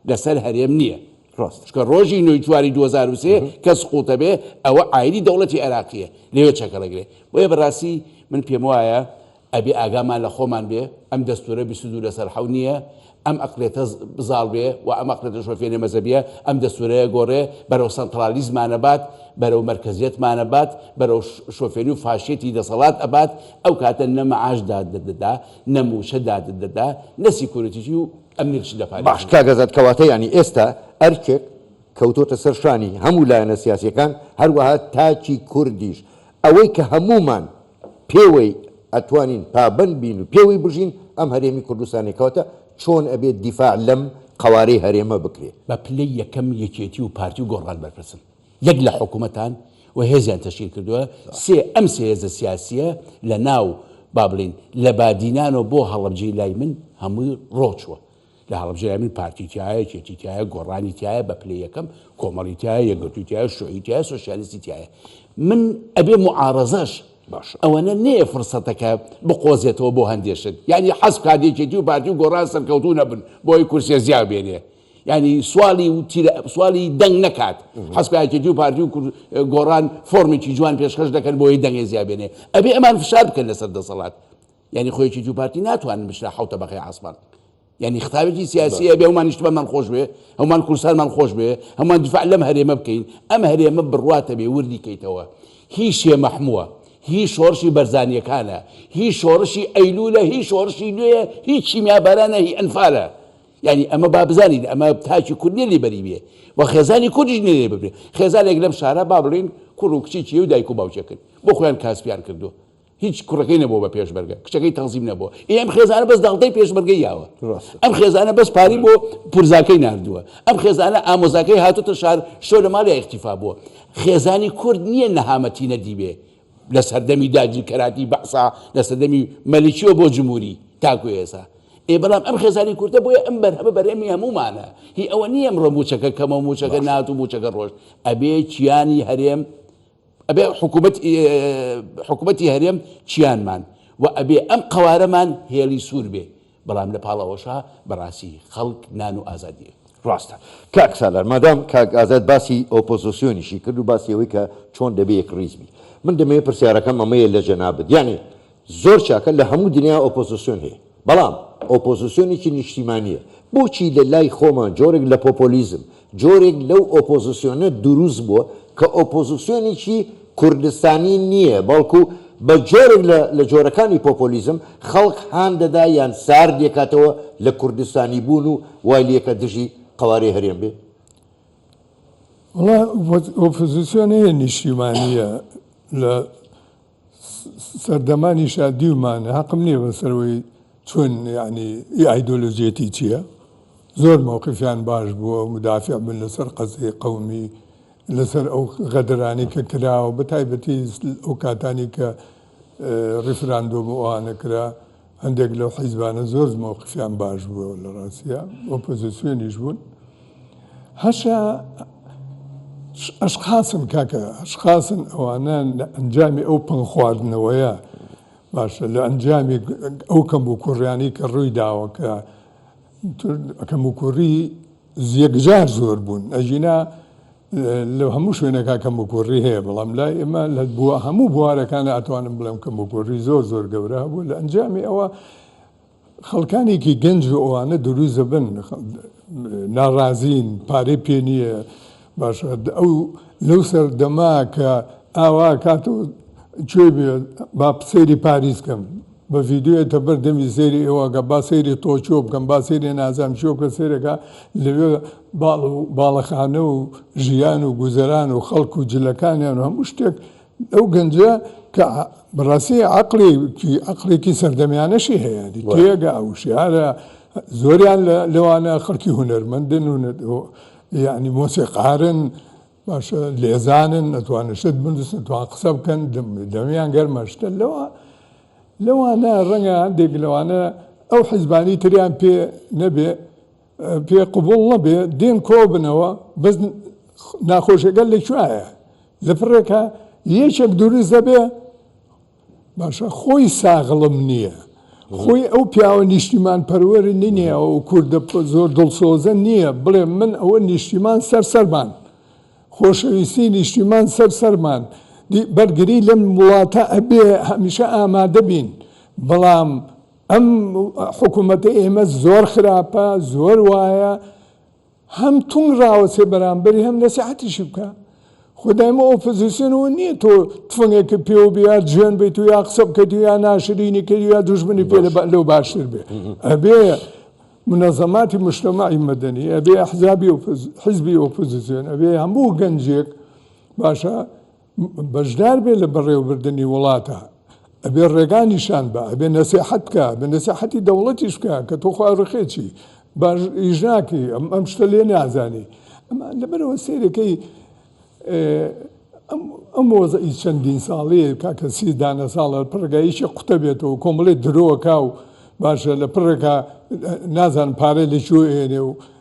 Speaker 3: لەسەر هەرێم نییە ڕاستکە ڕۆژی نوێی چواری 2023 کە سقوتە بێ ئەوە ئایدی دەوڵەتی عێراقیە لەوێ چەکەڵەگرێ بۆیە بەڕاستی من پێم وایە ئەبێ ئاگامان لە خۆمان بێ ئەم دەستورە 22 لەسەر حەو نییە ئەم ئەقلیەتە زاڵ بێ و ئەم ئەقلیەتە شۆفێنێ مەزەبیە ئەم دەستورەیە گۆڕێ بەرەو سەنترالیزمان ئەبات بەرەو مەرکەزیەتمان ئەبات بەرەو شۆفێنی و فاشیەتی دەسەڵات ئەبات ئەو کاتە نە معاش دادت دەدا نە موچە دادت دەدا نە سیکورتیی و ئەمنیتشت دەپارێزێ. باش کاک ئازاد کەواتە
Speaker 1: یانی ئێستا ئەرکێک کەوتۆتە سەر شانی هەموو لایەنە سیاسیەکان هەروەها تاکی کوردیش ئەوەی کە هەموومان پێوەی ئەتوانین پابەند بین و پێوەی بژین ئەم هەرێمی کوردستانە کەواتە چۆن ئەبێ دیفاع لەم قەوارەی هەرێمە بکرێ؟ بە پلەی یەکەم
Speaker 3: یەکێتی و پارتی و گۆڕان بەرپرسن یەک لە حکومەتان و هێزیان تەشکیل کردوە سێ ئەم سێ هێزە سیاسیە لە ناو با بڵین لە بادینانەوە بۆ هەڵەبجەی لای من هەمووی ڕۆچوە لە هەڵبژێرە ئەمین پارتی تیایە یەکێتی تیایە گۆڕانی تیایە بە پلەی یەکەم کۆمەڵی تیایە یەکگرتووی تیایە شوعی تیایە سۆشیالیستی تیایە من ئەبێ معارەزەش باشە ئەوەنە نەیە فرسەتەکە بقۆزێتەوە بۆ هەندێ شت یعنی حەز بکات یەکێتی و پارتی و گۆڕان سەرکەوتوو نەبن بۆی کورسیە زیا بێنێ یعنی سوالی و سوالی دەنگ نەکات حەز بکات یەکێتی و پارتی و گۆڕان فۆرمێکی جوان پێشکەش دەکەن بۆی دەنگێ زیا بێنێ ئەبێ ئەمان فشار بکەن لەسەر دەسەڵات یانی خۆ یەکێتی و پارتی ناتوانن بچنە حەوت تەبەقەی عاسمان یانی خەتاوێکی سیاسی ئەبێ هەموومان نیشتمانمان خۆش بوێ هەموومان کوردستانمان خۆش بوێ هەموومان دیفاع لەم هەرێمە بکەین ئەم هەرێمە بڕواتە بێ وردی کەیتەوە هی شێ مەحمووە هی شۆڕشی بەرزانییەکانە هی شۆڕشی ئەیلوولە هی شۆڕشی نوێیە هی کیمیابارانە هی ئەنفالە یانی ئەمە با بزانین ئەمە تاکی کورد نییە لێ بەری بێ و خێزانی کوردیش نییە لێ ببرێ خێزانێک لەم شارە با بڵێین کوڕ و کچێکی و دایک و باوکێکن بۆ خۆیان کاسپیان کردووە هیچ کوڕەکەی نەبووە بە پێشمەرگە کچەکەی تەنزیم نەبووە ئێ ئەم خێزانە بەس داڵدەی پێشمەرگەی یاوە ڕاستە ئەم خێزانە بەس پارەی بۆ پورزاکەی ناردووە ئەم خێزانە ئامۆزاکەی هاتۆتە شار شەو لە ماڵیا ئیختیفا بووە خێزانی کورد نییە نەهامەتی نەدیبێ لە سەردەمی داگیرکەراتی بەعسا لە سەردەمی مەلیکیەوە بۆ جمهوری تاکو ئێسا ئێ بەڵام ئەم خێزانی کوردە بۆیە ئەم بەرهەمە بەرهەمی هەموومانە هی ئەوە نییە ئەمڕۆ مووچەکە کەمە و مووچەکە باشە نهات و مووچەکە ڕۆشت ئەبێ کیانی هەرێم ئەبێ حکومەت حکومەتی هەرێم چیانمان و ئەبێ ئەم قەوارەمان هێڵی سوور بێ بەڵام لە پاڵ ئەوەشا بەڕاستی خەڵک نان و ئازادیە. ڕاستە کاک
Speaker 1: سالار مادام کاک ئازاد باسی ئۆپۆزسیۆنیشی کرد و باسی ئەوەی کە چۆن دەبێ یەکڕیز بی من دەمەوێ پرسیارەکەم ئەمەیە لە جەنابت یانی زۆر چاکە لە هەموو دنیا ئۆپۆزسیۆن هەیە بەڵام ئۆپۆزسیۆنێکی نیشتیمانیە بۆچی لە لای خۆمان جۆرێک لە پۆپۆلیزم جۆرێک لەو ئۆپۆزسیۆنە دروست بووە کە ئۆپۆزسیۆنێکی کوردستانی نییە بەڵکو بە جۆرێک لە لە جۆرەکانی پۆپۆلیزم خەڵک هان دەدا یان سارد دەکاتەوە لە کوردستانی بوون و وای لێکە دژی قەوارەی هەرێم بێ
Speaker 2: وەڵا ئۆپۆزسیۆن هەیە نیشتیمانیە لە. سەردەمانی شادی و مانە هەقم نیە بەسەرەوەی چۆن یعنی ئایدۆلۆژیەتی چییە زۆر مەوقفیان باش بووە مدافع بن لەسەر قەزی قەومی لەسەر ئەو غەدرانی کە کراوە بە تایبەتی ئەو کاتانی کە ڕیفراندۆم ئەوانە کرا هەندێک لەو حیزبانە زۆر مەوقفیان باش بووە لە ڕاستیا ئۆپۆزیسیۆنیش بوون هەشە ئەشخاسن کاکە ئەشخاسن ئەوانە لە ئەنجامی ئەو پن خواردنەوەیە باشە لە ئەنجامی ئەو کەم و کوڕیانی کە ڕووی داوەکە کەم و کوڕی یەکجار زۆر بوون ئەگینا لە هەموو شوێنەکە کەم و کوڕی هەیە بەڵام لای ئێمە لە بووە هەموو بوارەکانە ئەتوانم بڵێم کەم و کوڕی زۆر زۆر گەورە هەبوو لە ئەنجامی ئەوە خەڵکانێکی گەنج و ئەوانە درووست دەبن ناڕازین پارەی پێ نییە باشە ئەو لەو سەردەما کە ئاوا کات و کوێ بێ با سەیری پاریس کەم بە ڤیدیۆیە تە بەر دەمی سەیری ئێوەکە با سەیری تۆکیۆ بکەم با سەیری نازام چیۆ کە سەیرەکە لەوێ باڵ و باڵەخانە و ژیان و گوزەران و خەڵک و جلەکانیان و هەموو شتێک ئەو گەنجە کە بەڕاستی عەقڵی عەقڵێکی سەردەمیانەشی هەیە دی تێگە ئەو شیعرە زۆریان لە لەوانە خەڵکی هونەرمەندن و یەعنی مۆسیقارن باشە لێزانن نەتوانن شت بنووسن نەتوان قسە بکەن دەمیان گەرمە شتە لەوە لەوانە ڕەنگە هەندێک لەوانە ئەو حیزبانی تریان پێ نەبێ پێ قوبوڵ نەبێ دێن کۆبنەوە بەس ناخۆشەکە لە کوایە لە فڕێکە یەکێک دروست دەبێ باشە خۆی ساغڵم نیە خۆی ئەو پیاوە نیشتیمان پەروەر نینە ئەو کوردە زۆر دڵسۆزە نییە بڵێ من ئەوە نیشتیمان سەر سەرمان خۆشەویستی نیشتیمان سەر سەرمان بەرگری لەم وڵاتە ئەبێ هەمیشە ئامادە بین بەڵام ئەم حکوومەتە ئێمە زۆر خراپە زۆر وایە هەم توند ڕاوەستێ بەرامبەری هەم نەسیحەتیشی بکە خۆ دایمە ئۆپۆزیسیۆن و نییە تۆ تفەنگێکت پێوە بێ یا جوێن بیت و یا قسە بکەیت و یا ناشرینی کرد یا دوژمنی پێ لەو باشتر بێ ئەبێ منەزەماتی مشتەماعی مەدەنی ئەبێ حزابی حزبی ئۆپۆزیسیۆن ئەبێ هەموو گەنجێک باشە بەشدار بێ لە بەڕێوەبردنی وڵاتە ئەبێ ڕێگا نیشان بە ئەبێ نەسیحەت بکە بە نەسیحەتی دەوڵەتیش بکە کە تۆ خوا ڕخێ چی باش ئیش ناکی ئەم ئەم شتە لێ نازانی ئەمە لەبەرەوە سێرەکەی ئەم وەزئی چەندین ساڵی کاکە سی دانە ساڵە پڕگایشی قوتە بێتەوە کۆمەڵێ درۆکا و باشە لە پڕێکا نازان پارەی لە شوێنێ و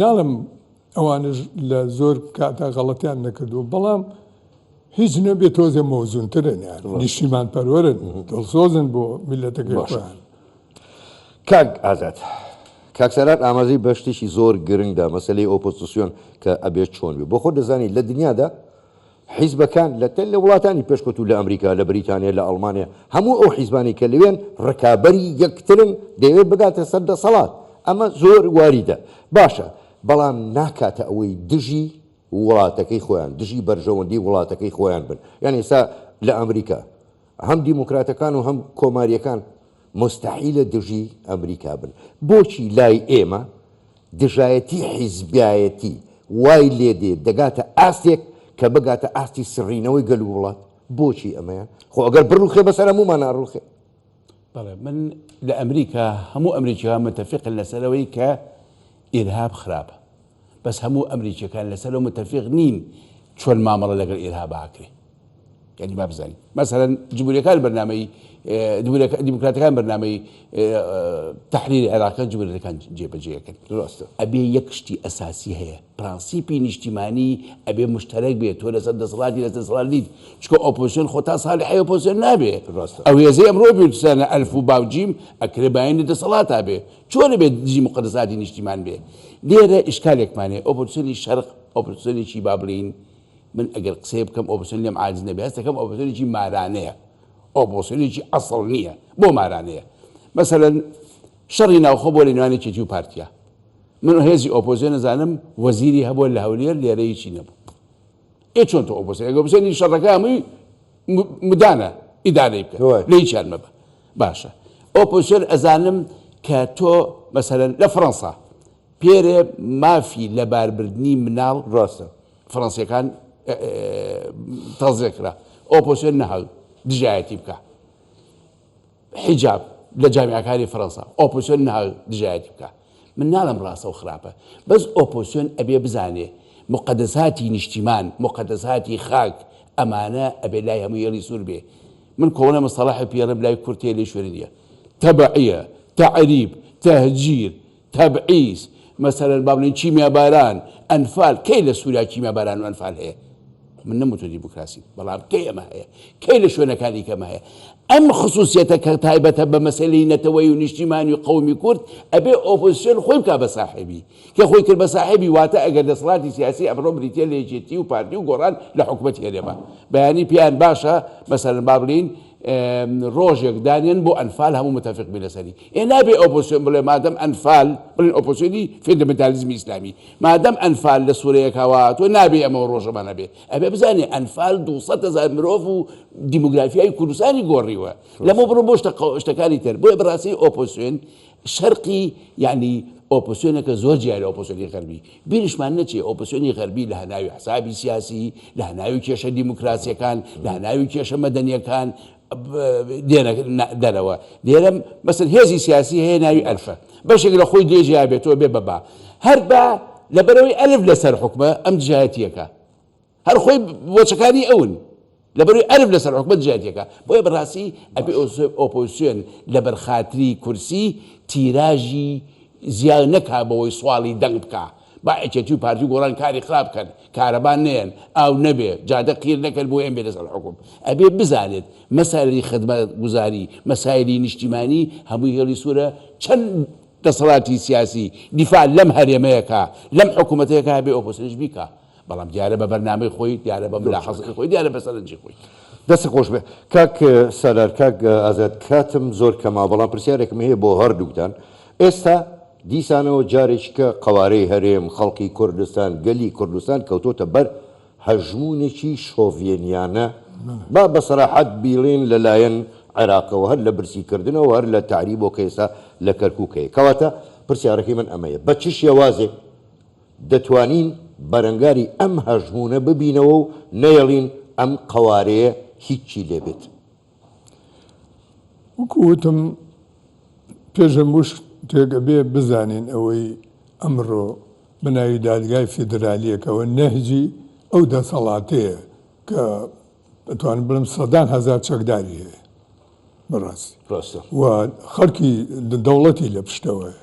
Speaker 2: ناڵێم ئەوانیش لە زۆر کاتا غەڵەتیان نەکردووە، بەڵام هیچ نەبێ تۆزێ مەوزوونترن یان نیشتیمانپەروەرن، دڵسۆزن بۆ میللەتەکەی خۆیان.
Speaker 1: کاک ئازاد، کاک سالار ئاماژەی بە شتێکی زۆر گرنگ دا، مەسەلەی ئۆپۆزسیۆن کە ئەبێ چۆن بێ. بۆ خۆت دەزانی لە دنیادا، حیزبەکان لە تە لە وڵاتانی پێشکەوتوو لە ئەمریکا، لە بریتانیا، لە ئەڵمانیا، هەموو ئەو حیزبانەی کە لەوێن ڕکابەری یەکترن دەیەوێت بگاتە سەر دەسەڵات، ئەمە زۆر واریدە باشە بەڵام ناکاتە ئەوەی دژی وڵاتەکەی خۆیان، دژی بەرژەوەندی وڵاتەکەی خۆیان بن، یان ئێستا لە ئەمریکا هەم دیموکراتەکان و هەم کۆماریەکان، موستەحیلە دژی ئەمریکا بن. بۆچی لای ئێمە دژایەتی حیزبایەتی وای لێ دێ دەگاتە ئاستێک کە بگاتە ئاستی سڕینەوەی گەل و وڵات؟ بۆچی ئەمەیە؟ خۆ ئەگەر بڕووخێ بەسەر هەموومان ئەڕووخێ. بەڵێ
Speaker 3: من لە ئەمریکا هەموو ئەمریکییەکان متەفیقن لەسەر ئەوەی کە ئیرهاب خراپە. بەس هەموو ئەمریکیەکان لەسەرەوە متەفیق نین چۆن مامەڵە لەگەڵ ئیرهابە ئەکرێ یانی با بزانین مەسەلەن جمهوریەکان بەرنامەی دیموکراتەکان بەرنامەی تحریر عێراقە جمهوریەکان جێبەجێەکەن دراستە ئەبێ یەک شتی ئەساسی هەیە پرانسیپی نیشتیمانی ئەبێ مشتەرەک بێت تۆ لەسەر دەسەڵاتی لەسەر دەسەڵات نیت چکە ئۆپۆزیسیۆن خۆ تا ساڵی حەیە ئۆپۆزیسیۆن نابێ ئەو هێزەی ئەمڕۆ بێت سەنە ئەلف و باوجیم ئەکرێ بایەنی دەسەڵاتا بێ چۆن ئەبێ دژی موقەدەساتی نیشتیمان بێ؟ لێرە ئیشکالێکمان هەیە، ئۆپۆزسیۆنی شەرق ئۆپۆزسیۆنێکی با بڵێین، من ئەگەر قسەیەک بکەم ئۆپۆزسیۆن لێم عاجز نەبێ، هەست دەکەم ئۆپۆزسیۆنێکی مارانەیە، ئۆپۆزسیۆنێکی ئەسڵ نییە، بۆ مارانەیە؟ مەسەلەن شەڕی ناوخۆ بووە لە نێوان یەکێتی و پارتیا، من هێزی ئۆپۆزیۆن ئەزانم وەزیری هەبووە لە هەولێر لێرە هیچی نەبوو. ئێ چۆن تۆ ئۆپۆزسیۆن ئەگەر ئۆپۆزسیۆنی شەڕەکە هەمووی مدانە ئیدانەی بکەن، لە هیچیان مەبە. باشە ئۆپۆزسیۆن ئەزانم کە تۆ مەسەلەن لە فڕەنسا پێرێ مافی لەباربردنی مناڵ ڕاستە
Speaker 1: فڕەنسیەکان
Speaker 3: تەزێ کرا ئۆپۆسیۆن نەهاو دژایەتی بکە حیجاب لە جامیعەکانی فڕەنسا ئۆپۆسیۆن نەهاو دژایەتی بکە من ناڵم ڕاستە و خراپە بەس ئۆپۆسیۆن ئەبێ بزانێ مقدساتی نیشتیمان مقدساتی خاک ئەمانە ئەبێ لای هەموو یەڵی سوور بێ من کۆڵێ مستەڵەحی پیێڕم لای کورد تێ لێ شوێنی نیە تەبعیە تەعریب تەهجیر تەبعیس مەسەلەن با بڵێن کیمیا باران ئەنفال کەی لە سوریا کیمیا باران و ئەنفال هەیە خۆ من نەموتو دیموکراسی بەڵام کەی ئەمە هەیە کەی لە شوێنەکانی کەمە هەیە ئەم خصوصیەتە کە تایبەتە بە مەسەلەی نەتەوەی و نیشتیمانی و قەومی کورد ئەبێ ئۆپۆزسیۆن خۆی بکا بە ساحێبی کە خۆی کرد بە ساحێبی، واتە ئەگەر دەسەڵاتی سیاسی ئەمڕۆ بریتیە لە یەکێتی و پارتی و گۆڕان لە حکومەتی هەرێمە بەیانی پێیان باشە مەسەلەن با بلێین رۆژێک دانێن بۆ ئەنفال هەموو متەفق بین لەسەری ئێ نابێ ئۆپۆسیۆن بڵێ مادەم ئەنفال بلێن ئۆپۆسیۆنی فێندەمنتالیزمی ئیسلامی مادەم ئەنفال لە سورەیەکا وا هاتووە نابێ ئەمەو رۆژەمان هەبێ ئەبێ بزانێ ئەنفال دوو سەد هەزار مرۆڤ و دیمۆگرافیای کوردستانی گۆڕیوە لەمەو بڕۆ بۆ شتە شتەکانی تر بۆیە بەڕاستی ئۆپۆسیۆن شەرقی یەعنی ئۆپۆسیۆنەکە زۆر جیا لە ئۆپۆسیۆنی غەربی. بیرشمان نەچێ ئۆپۆسیۆنی غەربی لە هەناوی حسابی سیاسی، لە هەناوی کێشە دیموکراسیەکان، لە هەناوی کێشە مەدەنیەکان دێنە دەرەوە. لێرە مەسەن هێزی سیاسی هەیە ناوی ئەلف. بەشێک لە خۆی دێ جیا بێتەوە بێ بە با. هەر با لەبەرئەوەی ئەلف لەسەر حوکمە ئەم دژایەتیەکە هەر خۆی بۆچەکانی ئەون لەبەروی ئەرف لەسەر حکومەت جیاتیەکە بۆیە بەراستی ئەبی باش ئۆپۆزسیۆن لەبەر خاتری کورسی تیراژی زیاد نەکا بەوەی سواڵی دەنگ بکا با ئەکێتی و پارتی و گۆڕان کاری خراپ کەن کارەبا نەیەن ئاو نەبێ جادە قیر نەکەن بۆ ئێمەی لەسەر حکوم ئەبێ بزانێت مەسالەی خدمەت گوزاری مەسایلی نیشتیمانی هەموی هێڵی سورە چەن دەسەڵاتی سیاسی دیفاع لەم هەرێمەیە کا لەم حکومەتەیە کا ئەبێ ئۆپۆسیۆنیش بیکا. بەڵام دیارە بە بەرنامەی خۆی، دیارە بە ملاحەزەی خۆی، دیارە بە سەرنجی خۆی. دەستت خۆش بێت
Speaker 1: کاک سالار. کاک ئازاد کاتم زۆر کەمە بەڵام پرسیارێکم هەیە بۆ هەردووکتان، ئێستا دیسانەوە جارێکیکە قەوارەی هەرێم، خەڵکی کوردستان، گەلی کوردستان کەوتۆتە بەر هەژموونێکی شۆڤێنیانە با بە سەراحەت بیڵێین لە لایەن عێراقەوە هەر لە برسی کردنەوە هەر لە تەعریبەوە کە ئێستا لە کەرکوک هەیە کەواتە پرسیارەکەی من ئەمەیە بە چ شێوازێک دەتوانین بەرەنگاری ئەم هەژموونە ببینەوە و نەیەڵین ئەم قەوارەیە هیچی لێ بێت.
Speaker 2: وەکو وتم پێش هەموو شتێک ئەبێ بزانین ئەوەی ئەمڕۆ بە ناوی دادگای فیدرالییەکەوە نەهجی ئەو دەسەڵاتەیە کە ئەتوانم بڵێم سەدان هەزار چەکداری هەیە بەڕاستی و خەڵکی دەوڵەتی لە پشتەوەیە.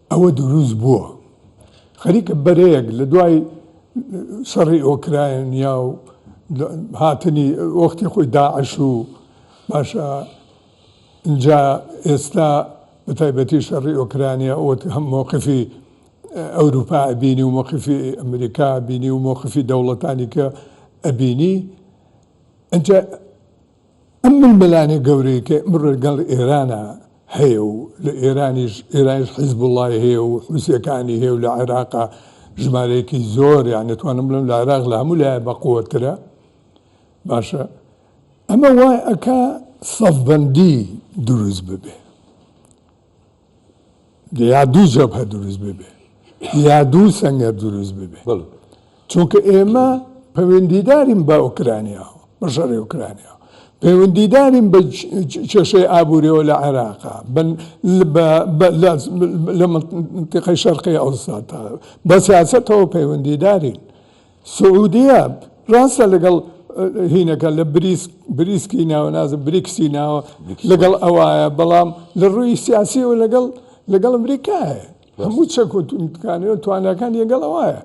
Speaker 2: ئەوە دروست بووە خەریکە بەرەیەک لە دوای شەڕی ئۆکراینیا و هاتنی وەختی خۆی داعش و باشە ئینجا ئێستا بە تایبەتی شەڕی ئۆکرانیا ئەوە هەم مۆقفی ئەوروپا ئەبینی و مۆقفی ئەمریکا بینی و مۆقفی دەوڵەتانی کە ئەبینی ئەجا ئەم ململانێ گەورەی کە ئمڕۆ لەگەڵ ئێرانە هەیە و لە ئێرانیش ئێرانیش حیزبوڵای هەیە و حوسیەکانی هەیە و لە عێراقا ژمارەیەکی زۆر یان ئەتوانم بڵێم لە عێراق لە هەموو لایە بە قوەترە باشە ئەمە وای ئەکا سەفبەندی دروست ببێ یا دوو جەبهە دروست ببێ یا دوو سەنگەر دروست ببێ چونکە ئێمە پەیوەندیدارین بە ئۆکرانیاوە بە شەڕی ئۆکرانیا پەیوەندیدارین بە کێشەی ئابووریەوە لە عێراقا لە منتیقی شەرقی ئەوسا بە سیاستەوە پەیوەندیدارین سعودیە راستە لەگەڵ هینەکە لە بریسکی ناوە نازە بریکسی ناوە لەگەڵ ئەوایە بەڵام لە ڕووی سیاسیەوە لەگەڵ لەگەڵ ئەمریکایە هەموو چەکوتکانەوە توانەکان لەگەڵ ئەوایە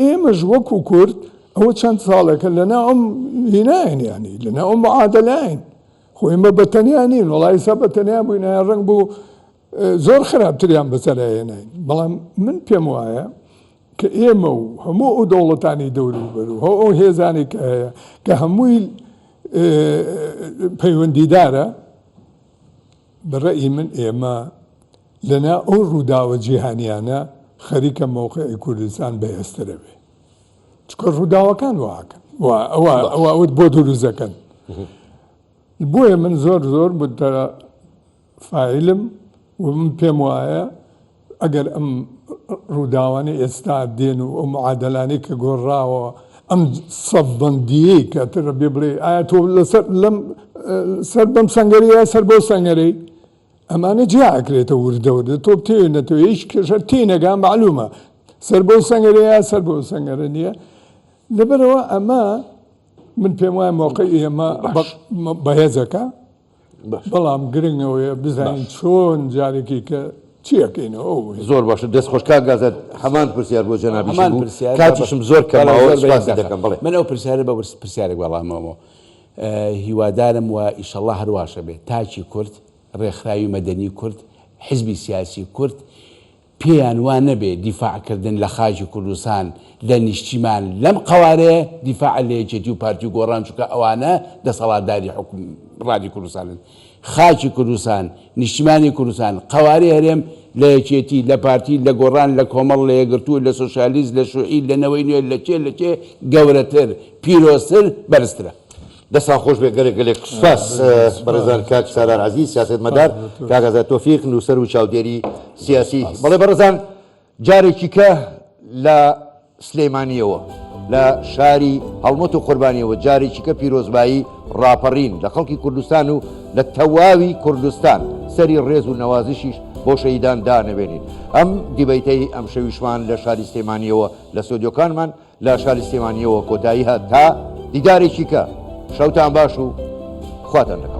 Speaker 2: ئێمەش وەکو کورد ئەوە چەند ساڵێکە لەنا ئەم هیناین ینی لەنا ئەم عادەلاین خۆ ئێمە بەتەنیا نین وڵی سا بەتەنیا بووین ڕنگ بوو زۆر خراپتریان بەسەرهێنین بەڵام من پێم وایە کە ئێمە و هەموو ئەو دەوڵەتانی دەوروبەر و هەو ئەو هێزانەی کە هەیە کە هەمووی پەیوەندیدارە، بە ڕەئی من ئێمە لەنا ئەو ڕووداوە جیهانیانە خەریکە مەوقعی کوردستان بەهێزترە بێ چکە ڕووداوەکان واکەن ئەوەوت بۆ دروزەکەن بۆیە من زۆر زۆر بتەرە فاعیلم و من پێم وایە ئەگەر ئەم ڕووداوانەی ئێستا دێن و ئەو معادەلانەی کە گۆڕراوە ئەم سەف بەندیەی کە تر بێ بڵێ ئایا تۆ لەسەر لەم سەر بەم سنگەرەیە سەر بۆ سنگەرەی ئەمانە جیا ئەکرێتە وردەوردە تۆ بتێوێ نەتەوە هیچ کێشە تێنەگا معلومە سەر بۆ سنگەرەیە سەر بۆ سنگەرە نییە لەبەرەوە ئەمە من پێم وایە مۆقعی ئێمە بەهێزەکە بەڵام گرنگ ئەوەیە بزانین چۆن جارێکی کە چی ئەکەینەوە ئەو بکەین. زۆر باشە دەست
Speaker 1: خۆش کاک ئازاد هەمان پرسیار بۆ جەنابیشم بوو کاتیشم زۆر کەمماوە سپاست دەکەم بڵێ. من ئەو پرسیارە بە
Speaker 3: پرسیارێک وەڵامەوە هیوادارم وە ئیشەڵا هەرواشە بێت تاکی کورد ڕێکخراوی مەدەنی کورد حزبی سیاسی کورد، پێیان وا نەبێ دیفاع کردن لە خاکی کوردستان لە نیشتیمان لەم قەوارەیە دیفاع لە یەکێتی و پارتی و گۆڕان چونکە ئەوانە دەسەڵاتداری حوکمڕانی کوردستانن خاکی کوردستان نیشتیمانی کوردستان قەوارەی هەرێم لە یەکێتی لە پارتی لە گۆڕان لە کۆمەڵ لە یەکگرتوو لە سۆشیالیست لە شوعی لە نەوەی نوێ لە کێ لە کێ گەورەتر پیرۆزتر بەرزترە دەستان خۆش
Speaker 1: بێت گەلێک گەلێک سوپاس بەڕێزان کاک سالار عەزیز سیاسەت مەدار کاک ئازاد تۆفیق نووسەر و چاودێری سیاسی بەڵێ بەڕێزان جارێکی کە لە سلێمانیەوە لە شاری هەڵمەت و قوربانیەوە جارێکی کە پیرۆزبایی ڕاپەڕین لە خەڵکی کوردستان و لە تەواوی کوردستان سەری ڕێز و نەوازشیش بۆ شەیدان دانەوێنین ئەم دیبەیتەی ئەم شەویشمان لە شاری سلێمانیەوە لە سۆدیۆکانمان لە شاری سلێمانیەوە کۆتایی هات تا دیدارێکی کە شەوتان باش و خواتان لەگەڵ